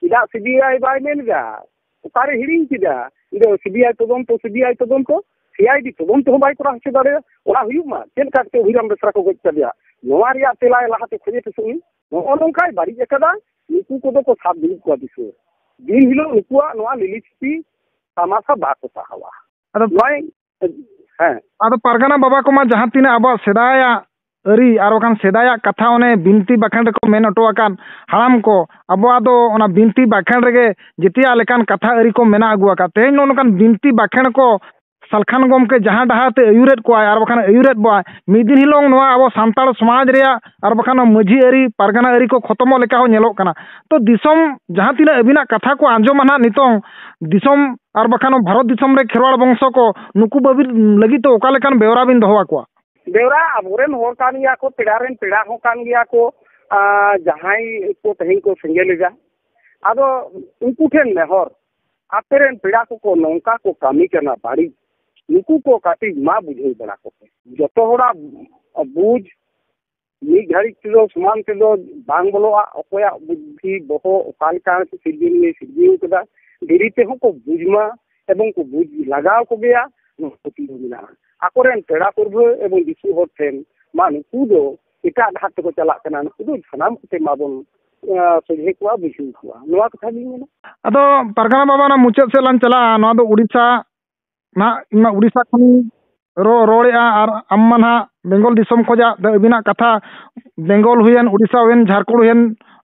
ᱪᱮᱫᱟᱜ ᱥᱤᱵᱤᱟᱭ ᱵᱟᱭ ᱢᱮᱱ ᱮᱫᱟ ᱚᱠᱟᱨᱮ ᱦᱤᱲᱤᱧ ᱠᱮᱫᱟ ᱤᱧ ᱫᱚ ᱥᱤᱵᱤᱟᱭ ᱛᱚᱫᱚᱱᱛᱚ ᱥᱤᱵᱤᱟᱭ ᱛᱚᱫᱚᱱᱛᱚ ᱥᱤᱟᱭᱰᱤ ᱛᱚᱫᱚᱱᱛᱚ ᱦᱚᱸ ᱵᱟᱭ ᱠᱚᱨᱟᱣ ᱦᱚᱪᱚ ᱫᱟᱲᱮᱭᱟᱜᱼᱟ ᱚᱱᱟ ᱦᱩᱭᱩᱜ ᱢᱟ ᱪᱮᱫ ᱞᱮᱠᱟ ᱠᱟᱛᱮ ᱚᱵᱷᱤᱨᱟᱢ ᱵᱮᱥᱨᱟ ᱠᱚ ᱜᱚᱡ ᱠᱮᱫᱮᱭᱟ ᱱᱚᱣᱟ ᱨᱮᱭᱟᱜ ᱛᱮᱞᱟ ᱞᱟᱦᱟᱛᱮ ᱠᱷᱚᱡᱮ ᱯᱮᱥᱮ ᱩᱱᱤ ᱱᱚᱜᱼᱚ ᱱᱚᱝᱠᱟᱭ ᱵᱟᱹᱲᱤᱡ ᱟᱠᱟᱫᱟ ᱱᱩᱠᱩ ᱠᱚᱫᱚ ᱠᱚ ᱥᱟᱵ ᱫᱩᱲᱩᱵ ᱠᱚᱣᱟ ᱫᱤᱥᱟᱹ ᱫᱤᱱ ᱦᱤᱞᱳᱜ ᱱᱩᱠᱩᱣᱟᱜ ᱱᱚᱣᱟ ᱞᱤᱞᱤᱪᱷᱯᱤ ᱛᱟᱢᱟᱥᱟ ᱵᱟᱠᱚ ᱥᱟᱦᱟᱣᱟ ᱟᱫᱚ ᱱᱚᱜᱼᱚᱭ ᱦᱮᱸ ᱟᱫᱚ ᱯᱟᱨᱜᱟᱱᱟ ᱵᱟᱵᱟ ᱠᱚᱢᱟ ᱡᱟᱦᱟᱸ ᱛᱤᱱᱟᱹᱜ ᱟᱵᱚᱣᱟᱜ ᱥᱮᱫᱟᱭᱟᱜ ᱟᱹᱨᱤ ᱟᱨ ᱵᱟᱠᱷᱟᱱ ᱥᱮᱫᱟᱭᱟᱜ ᱠᱟᱛᱷᱟ ᱚᱱᱮ ᱵᱤᱱᱛᱤ ᱵᱟᱠᱷᱮᱬ ᱨᱮᱠᱚ ᱢᱮᱱ ᱦᱚᱴᱚ ᱟᱠᱟᱱ ᱦᱟᱲᱟᱢ ᱠᱚ ᱟᱵᱚᱣᱟᱜ ᱫᱚ ᱚᱱᱟ ᱵᱤᱱᱛᱤ ᱵᱟᱠᱷᱮᱬ ᱨᱮᱜᱮ ᱡᱮᱛᱮᱭᱟᱜ ᱞᱮᱠᱟᱱ ᱠᱟᱛᱷᱟ ᱟᱹᱨᱤ ᱠᱚ ᱢᱮᱱᱟᱜ ᱟᱹᱜᱩ ᱟᱠᱟᱫ ᱛᱮᱦᱮᱧ ᱱᱚᱜᱼᱚ ᱱᱚᱝᱠᱟᱱ ᱵᱤᱱᱛᱤ ᱵᱟᱠᱷᱮᱬ ᱠᱚ ᱥᱟᱞᱠᱷᱟᱱ ᱜᱚᱢᱠᱮ ᱡᱟᱦᱟᱸ ᱰᱟᱦᱟᱨ ᱛᱮ ᱟᱹᱭᱩᱨᱮᱫ ᱠᱚᱣᱟᱭ ᱟᱨ ᱵᱟᱠᱷᱟᱱ ᱟᱹᱭᱩᱨᱮᱫ ᱵᱚᱣᱟᱭ ᱢᱤᱫ ᱫᱤᱱ ᱦᱤᱞᱳᱜ ᱱᱚᱣᱟ ᱟᱵᱚ ᱥᱟᱱᱛᱟᱲ ᱥᱚᱢᱟᱡᱽ ᱨᱮᱭᱟᱜ ᱟᱨ ᱵᱟᱠᱷᱟᱱ ᱢᱟᱹᱡᱷᱤ ᱟᱹᱨᱤ ᱯᱟᱨᱜᱟᱱᱟ ᱟᱹᱨᱤ ᱠᱚ ᱠᱷᱚᱛᱚᱢᱚᱜ ᱞᱮᱠᱟ ᱦᱚᱸ ᱧᱮᱞᱚᱜ ᱠᱟᱱᱟ ᱛᱚ ᱫᱤᱥᱚᱢ ᱡᱟᱦᱟᱸ ᱛᱤᱱᱟᱹᱜ ᱟᱹᱵᱤᱱᱟᱜ ᱠᱟᱛᱷᱟ ᱠᱚ ᱟᱸᱡᱚᱢᱟ ᱱᱟᱦᱟᱜ ᱱᱤᱛᱚᱝ ᱫᱤᱥᱚᱢ ᱟᱨ ᱵᱟᱠᱷᱟᱱ ᱵᱷᱟᱨᱚᱛ ᱫᱤᱥᱚᱢ ᱨᱮ ᱠᱷᱮᱨᱣᱟᱲ ᱵᱚᱝᱥᱚ ᱠᱚ ᱱᱩᱠᱩ ᱵᱟᱹᱵᱤᱨ ᱞᱟᱹᱜᱤᱫ ᱫᱚ ᱚᱠᱟ ᱞᱮᱠᱟᱱ ᱵᱮᱣᱨᱟ ᱵᱤᱱ ᱫᱚᱦᱚ ᱟᱠᱚᱣᱟ ᱵᱮᱣᱨᱟ ᱟᱵᱚᱨᱮᱱ ᱦᱚᱲ ᱠᱟᱱ ᱜᱮᱭᱟ ᱠᱚ ᱯᱮᱲᱟ ᱨᱮᱱ ᱯᱮᱲᱟ ᱦᱚᱸ ᱠᱟᱱ ᱜᱮᱭᱟ ᱠᱚ ᱡᱟᱦᱟᱸᱭ ᱠᱚ ᱛᱮᱦᱮᱧ ᱠᱚ ᱥᱮᱸᱜᱮᱞ ᱮᱫᱟ ᱟᱫᱚ ᱩᱱᱠᱩ ᱴᱷᱮᱱ ᱱᱮᱦᱚᱨ ᱟᱯᱮ ᱨᱮᱱ ᱯᱮᱲᱟ ᱠᱚᱠᱚ ᱱᱚᱝᱠᱟ ᱠᱚ ᱠᱟᱹᱢᱤ ᱠᱟᱱᱟ ᱵᱟᱹᱲᱤᱡ ᱱᱩᱠᱩ ᱠᱚ ᱠᱟᱹᱴᱤᱡ ᱢᱟ ᱵᱩᱡᱷᱟᱹᱣ ᱵᱟᱲᱟ ᱠᱚᱯᱮ ᱡᱚᱛᱚ ᱦᱚᱲᱟᱜ ᱵᱩᱡᱽ ᱢᱤᱫ ᱜᱷᱟᱹᱲᱤᱡ ᱛᱮᱫᱚ ᱥᱚᱢᱟᱱ ᱛᱮᱫᱚ ᱵᱟᱝ ᱵᱚᱞᱚᱜᱼᱟ ᱚᱠᱚᱭᱟᱜ ᱵᱩᱫᱽᱫᱷᱤ ᱵᱚᱦᱚᱜ ᱚᱠᱟ ᱞᱮᱠᱟ ᱥᱤᱨᱡᱚᱱᱤᱭᱟᱹᱭ ᱥᱤᱨᱡᱟᱹᱣ ᱠᱟᱫᱟ ᱫᱮᱨᱤ ᱛᱮᱦᱚᱸ ᱠᱚ ᱵᱩᱡᱽ ᱢᱟ ᱮᱵᱚᱝ ᱠᱚ ᱵᱩᱡᱽ ᱞᱟᱜᱟᱣ ᱠᱚᱜᱮᱭᱟ ᱱᱚᱣᱟ ᱯᱟᱹᱛᱭᱟᱹᱣ ᱢᱮᱱᱟᱜᱼᱟ ᱟᱠᱚ ᱨᱮᱱ ᱯᱮᱲᱟ ᱯᱟᱹᱨᱵᱷᱟᱹ ᱮᱵᱚᱝ ᱫᱤᱥᱩᱣᱟᱹ ᱦᱚᱲ ᱴᱷᱮᱱ ᱢᱟ ᱱᱩᱠᱩ ᱫᱚ ᱮᱴᱟᱜ ᱰᱟᱦᱟᱨ ᱛᱮᱠᱚ ᱪᱟᱞᱟᱜ ᱠᱟᱱᱟ ᱱᱩᱠᱩ ᱫᱚ ᱥᱟᱱᱟᱢ ᱠᱚᱛᱮ ᱢᱟᱵᱚᱱ ᱥᱚᱡᱷᱮ ᱠᱚᱣᱟ ᱵᱩᱡᱷᱟᱹᱣ ᱠᱚᱣᱟ ᱱᱚᱣᱟ ᱠᱟᱛᱷᱟ ᱜᱤᱧ ᱢᱮᱱᱟ ᱟᱫᱚ ᱯᱟᱨᱜᱟᱱᱟ ᱵᱟᱵᱟ ᱚᱱᱟ ᱢᱩᱪᱟᱹᱫ ᱥᱮᱫ ᱞᱟᱝ ᱪᱟᱞᱟᱜᱼᱟ ᱱᱚᱣᱟ ᱫᱚ ᱩᱲᱤᱥᱥᱟ ᱱᱟᱦᱟᱜ ᱤᱧᱢᱟ ᱩᱲᱤᱥᱥᱟ ᱠᱷᱚᱱᱤᱧ ᱨᱚᱲ ᱨᱚᱲᱮᱫᱼᱟ ᱟᱨ ᱟᱢ ᱢᱟ ᱱᱟᱦᱟᱜ ᱵᱮᱝᱜᱚᱞ ᱫᱤᱥᱚᱢ ᱠᱷᱚᱱᱟᱜ ᱫᱚ ᱟᱹᱵᱤᱱᱟᱜ ᱠᱟᱛᱷᱟ ᱵᱮᱝᱜᱚᱞ ᱦᱩᱭᱮᱱ ᱩᱲᱤᱥᱥᱟ ᱦᱩᱭᱮᱱ ᱡᱷᱟᱲᱠᱷᱚᱸᱰ ᱦᱩᱭᱮᱱ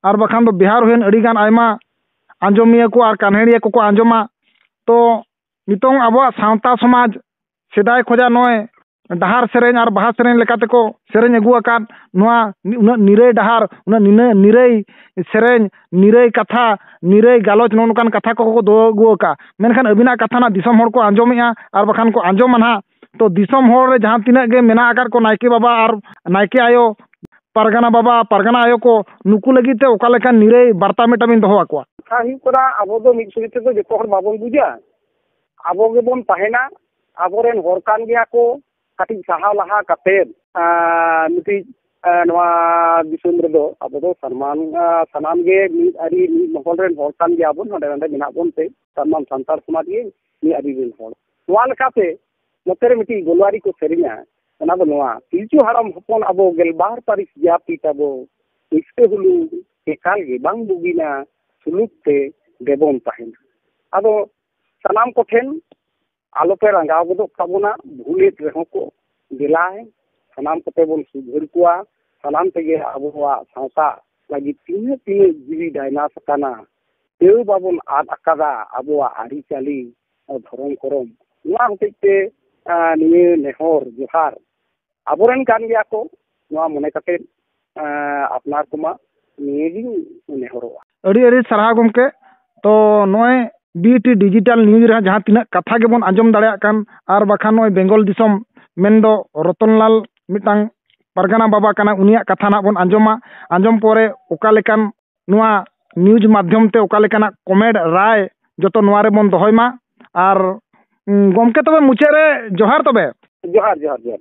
ᱟᱨ ᱵᱟᱠᱷᱟᱱ ᱫᱚ ᱵᱤᱦᱟᱨ ᱦᱩᱭᱮᱱ ᱟᱹᱰᱤ ᱜᱟᱱ ᱟᱭᱢᱟ ᱟᱸᱡᱚᱢᱤᱭᱟᱹ ᱠᱚ ᱟᱨ ᱠᱟᱱᱦᱮᱲᱤᱭᱟᱹ ᱠᱚᱠᱚ ᱟᱸᱡᱚᱢᱟ ᱛᱚ ᱱᱤᱛᱚᱝ ᱟᱵᱚᱣᱟᱜ ᱥᱟᱶᱛᱟ ᱥᱚᱢᱟᱡᱽ ᱥᱮᱫᱟᱭ ᱠᱷᱚᱱᱟᱜ ᱱᱚᱜᱼᱚᱭ ᱰᱟᱦᱟᱨ ᱥᱮᱨᱮᱧ ᱟᱨ ᱵᱟᱦᱟ ᱥᱮᱨᱮᱧ ᱞᱮᱠᱟ ᱛᱮᱠᱚ ᱥᱮᱨᱮᱧ ᱟᱹᱜᱩ ᱟᱠᱟᱫ ᱱᱚᱣᱟ ᱩᱱᱟᱹᱜ ᱱᱤᱨᱟᱹᱭ ᱰᱟᱦᱟᱨ ᱩᱱᱟᱹᱜ ᱱᱤᱱᱟᱹ ᱱᱤᱨᱟᱹᱭ ᱥᱮᱨᱮᱧ ᱱᱤᱨᱟᱹᱭ ᱠᱟᱛᱷᱟ ᱱᱤᱨᱟᱹᱭ ᱜᱟᱞᱚᱪ ᱱᱚᱜᱼᱚ ᱱᱚᱝᱠᱟᱱ ᱠᱟᱛᱷᱟ ᱠᱚ ᱠᱚ ᱫᱚᱦᱚ ᱟᱹᱜᱩ ᱟᱠᱟᱫᱼᱟ ᱢᱮᱱᱠᱷᱟᱱ ᱟᱹᱵᱤᱱᱟᱜ ᱠᱟᱛᱷᱟ ᱱᱟᱜ ᱫᱤᱥᱚᱢ ᱦᱚᱲ ᱠᱚ ᱟᱸᱡᱚᱢᱮᱫᱼᱟ ᱟᱨ ᱵᱟᱠᱷᱟᱱ ᱠᱚ ᱟᱸᱡᱚᱢᱟ ᱱᱟᱜ ᱛᱚ ᱫᱤᱥᱚᱢ ᱦᱚᱲ ᱨᱮ ᱡᱟᱦᱟᱸ ᱛᱤᱱᱟᱹᱜ ᱜᱮ ᱢᱮᱱᱟᱜ ᱟᱠᱟᱫ ᱠᱚ ᱱᱟᱭᱠᱮ ᱵᱟᱵᱟ ᱟᱨ ᱱᱟᱭᱠᱮ ᱟᱭᱳ ᱯᱟᱨᱜᱟᱱᱟ ᱵᱟᱵᱟ ᱯᱟᱨᱜᱟᱱᱟ ᱟᱭᱳ ᱠᱚ ᱱᱩᱠᱩ ᱞᱟᱹᱜᱤᱫ ᱛᱮ ᱚᱠᱟ ᱞᱮᱠᱟᱱ ᱱᱤᱨᱟᱹᱭ ᱵᱟᱨᱛᱟ ᱢᱤᱫᱴᱟᱝ ᱵᱤᱱ ᱫᱚᱦᱚ ᱟᱠᱚᱣᱟ ᱠᱟᱛᱷᱟ ᱦᱩᱭᱩᱜ ᱠᱟᱱᱟ ᱟᱵᱚ ᱫᱚ ᱢᱤᱫ ᱥᱚᱸᱜᱮ ᱛᱮᱫᱚ ᱡᱚᱛᱚ ᱦᱚᱲ ᱵᱟᱵᱚᱱ ᱵᱩᱡᱟ ᱟᱵᱚ ᱜᱮᱵᱚᱱ ᱛᱟᱦᱮᱱᱟ ᱟᱵᱚᱨᱮᱱ ᱦᱚᱲ ᱠᱟᱱ ᱜᱮᱭᱟ ᱠᱚ ᱠᱟᱹᱴᱤᱡ ᱥᱟᱦᱟ ᱞᱟᱦᱟ ᱠᱟᱛᱮ ᱢᱤᱫᱴᱤᱡ ᱱᱚᱣᱟ ᱫᱤᱥᱚᱢ ᱨᱮᱫᱚ ᱟᱵᱚ ᱫᱚ ᱥᱟᱱᱟᱢ ᱥᱟᱱᱟᱢ ᱜᱮ ᱢᱤᱫ ᱟᱹᱨᱤ ᱢᱤᱫ ᱢᱚᱦᱚᱞ ᱨᱮᱱ ᱦᱚᱲ ᱠᱟᱱ ᱜᱮᱭᱟ ᱵᱚᱱ ᱦᱟᱸᱰᱮ ᱱᱟᱰᱮ ᱢᱮᱱᱟᱜ ᱵᱚᱱ ᱛᱮ ᱥᱟᱱᱟᱢ ᱥᱟᱱᱛᱟᱲ ᱥᱚᱢᱟᱡᱽ ᱜᱮ ᱢᱤᱫ ᱟᱹᱨᱤ ᱨᱮᱱ ᱦᱚᱲ ᱱᱚᱣᱟ ᱞᱮᱠᱟᱛᱮ ᱱᱚᱛᱮ ᱨᱮ ᱢᱤᱫᱴᱤᱡ ᱜᱳᱞᱣᱟᱨᱤ ᱠᱚ ᱥᱮᱨᱮᱧᱟ ᱚᱱᱟ ᱫᱚ ᱱᱚᱣᱟ ᱯᱤᱞᱪᱩ ᱦᱟᱲᱟᱢ ᱦᱚᱯᱚᱱ ᱟᱵᱚ ᱜᱮᱞᱵᱟᱨ ᱯᱟᱹᱨᱤᱥ ᱡᱟᱹᱛᱤ ᱛᱟᱵᱚ ᱤᱥᱠᱟᱹ ᱦᱩᱞᱩᱝ ᱮᱠᱟᱞ ᱜᱮ ᱵᱟᱝ ᱵᱩᱜᱤᱱᱟ ᱥᱩᱞᱩᱠ ᱛᱮ ᱫᱮᱵᱚᱱ ᱛᱟᱦᱮᱱᱟ ᱟᱫᱚ ᱥᱟᱱᱟᱢ ᱠᱚᱴᱷᱮᱱ ᱟᱞᱚ ᱯᱮ ᱨᱟᱸᱜᱟᱣ ᱜᱚᱫᱚᱜ ᱛᱟᱵᱚᱱᱟ ᱵᱷᱩᱞᱮᱫ ᱨᱮᱦᱚᱸ ᱠᱚ ᱫᱮᱞᱟ ᱥᱟᱱᱟᱢ ᱠᱚᱛᱮ ᱵᱚᱱ ᱥᱩᱫᱷᱟᱹᱨ ᱠᱚᱣᱟ ᱥᱟᱱᱟᱢ ᱛᱮᱜᱮ ᱟᱵᱚᱣᱟᱜ ᱥᱟᱶᱛᱟ ᱞᱟᱹᱜᱤᱫ ᱛᱤᱱᱟᱹᱜ ᱛᱤᱱᱟᱹᱜ ᱡᱤᱣᱤ ᱰᱟᱭᱱᱟᱥ ᱟᱠᱟᱱᱟ ᱛᱟᱹᱣ ᱵᱟᱵᱚᱱ ᱟᱫ ᱟᱠᱟᱫᱟ ᱟᱵᱚᱣᱟᱜ ᱟᱹᱨᱤᱪᱟᱹᱞᱤ ᱫᱷᱚᱨᱚᱢ ᱠᱚᱨᱚᱢ ᱱᱚᱣᱟ ᱦᱚᱛᱮᱡ ᱛᱮ ᱱᱤᱭᱟᱹ ᱱᱮᱦᱚᱨ ᱡᱚᱦᱟᱨ ᱟᱵᱚᱨᱮᱱ ᱠᱟᱱ ᱜᱮᱭᱟ ᱠᱚ ᱱᱚᱣᱟ ᱢᱚᱱᱮ ᱠᱟᱛᱮ ᱟᱯᱱᱟᱨ ᱠᱚᱢᱟ ᱱᱤᱭᱟᱹᱜᱤᱧ ᱱᱮᱦᱚᱨᱚᱜᱼᱟ ᱟᱹᱰᱤ ᱟᱹᱰᱤ ᱥᱟᱨᱦᱟᱣ ᱜᱚᱢᱠᱮ ᱛᱚ ᱱᱚᱜᱼᱚᱭ ᱵᱤᱴᱤ ᱰᱤᱡᱤᱴᱟᱞ ᱱᱤᱭᱩᱡᱽ ᱨᱮ ᱡᱟᱦᱟᱸ ᱛᱤᱱᱟᱹᱜ ᱠᱟᱛᱷᱟ ᱜᱮᱵᱚᱱ ᱟᱸᱡᱚᱢ ᱫᱟᱲᱮᱭᱟᱜ ᱠᱟᱱ ᱟᱨ ᱵᱟᱠᱷᱟᱱ ᱱᱚᱜᱼᱚᱭ ᱵᱮᱝᱜᱚᱞ ᱫᱤᱥᱚᱢ ᱢᱮᱱᱫᱚ ᱨᱚᱛᱚᱱᱞᱟᱞ ᱢᱤᱫᱴᱟᱝ ᱯᱟᱨᱜᱟᱱᱟ ᱵᱟᱵᱟ ᱠᱟᱱᱟ ᱩᱱᱤᱭᱟᱜ ᱠᱟᱛᱷᱟ ᱱᱟᱜ ᱵᱚᱱ ᱟᱸᱡᱚᱢᱟ ᱟᱸᱡᱚᱢ ᱯᱚᱨᱮ ᱚᱠᱟ ᱞᱮᱠᱟᱱ ᱱᱚᱣᱟ ᱱᱤᱭᱩᱡᱽ ᱢᱟᱫᱽᱫᱷᱚᱢ ᱛᱮ ᱚᱠᱟ ᱞᱮᱠᱟᱱᱟᱜ ᱠᱚᱢᱮᱰ ᱨᱟᱭ ᱡᱚᱛᱚ ᱱᱚᱣᱟ ᱨᱮᱵᱚᱱ ᱫᱚᱦᱚᱭ ᱢᱟ ᱟᱨ ᱜᱚᱢᱠᱮ ᱛᱚᱵᱮ ᱢᱩᱪᱟᱹᱫ ᱨᱮ ᱡᱚᱦᱟᱨ ᱛᱚᱵᱮ ᱡᱚᱦᱟᱨ ᱡᱚᱦᱟᱨ ᱡᱚᱦᱟᱨ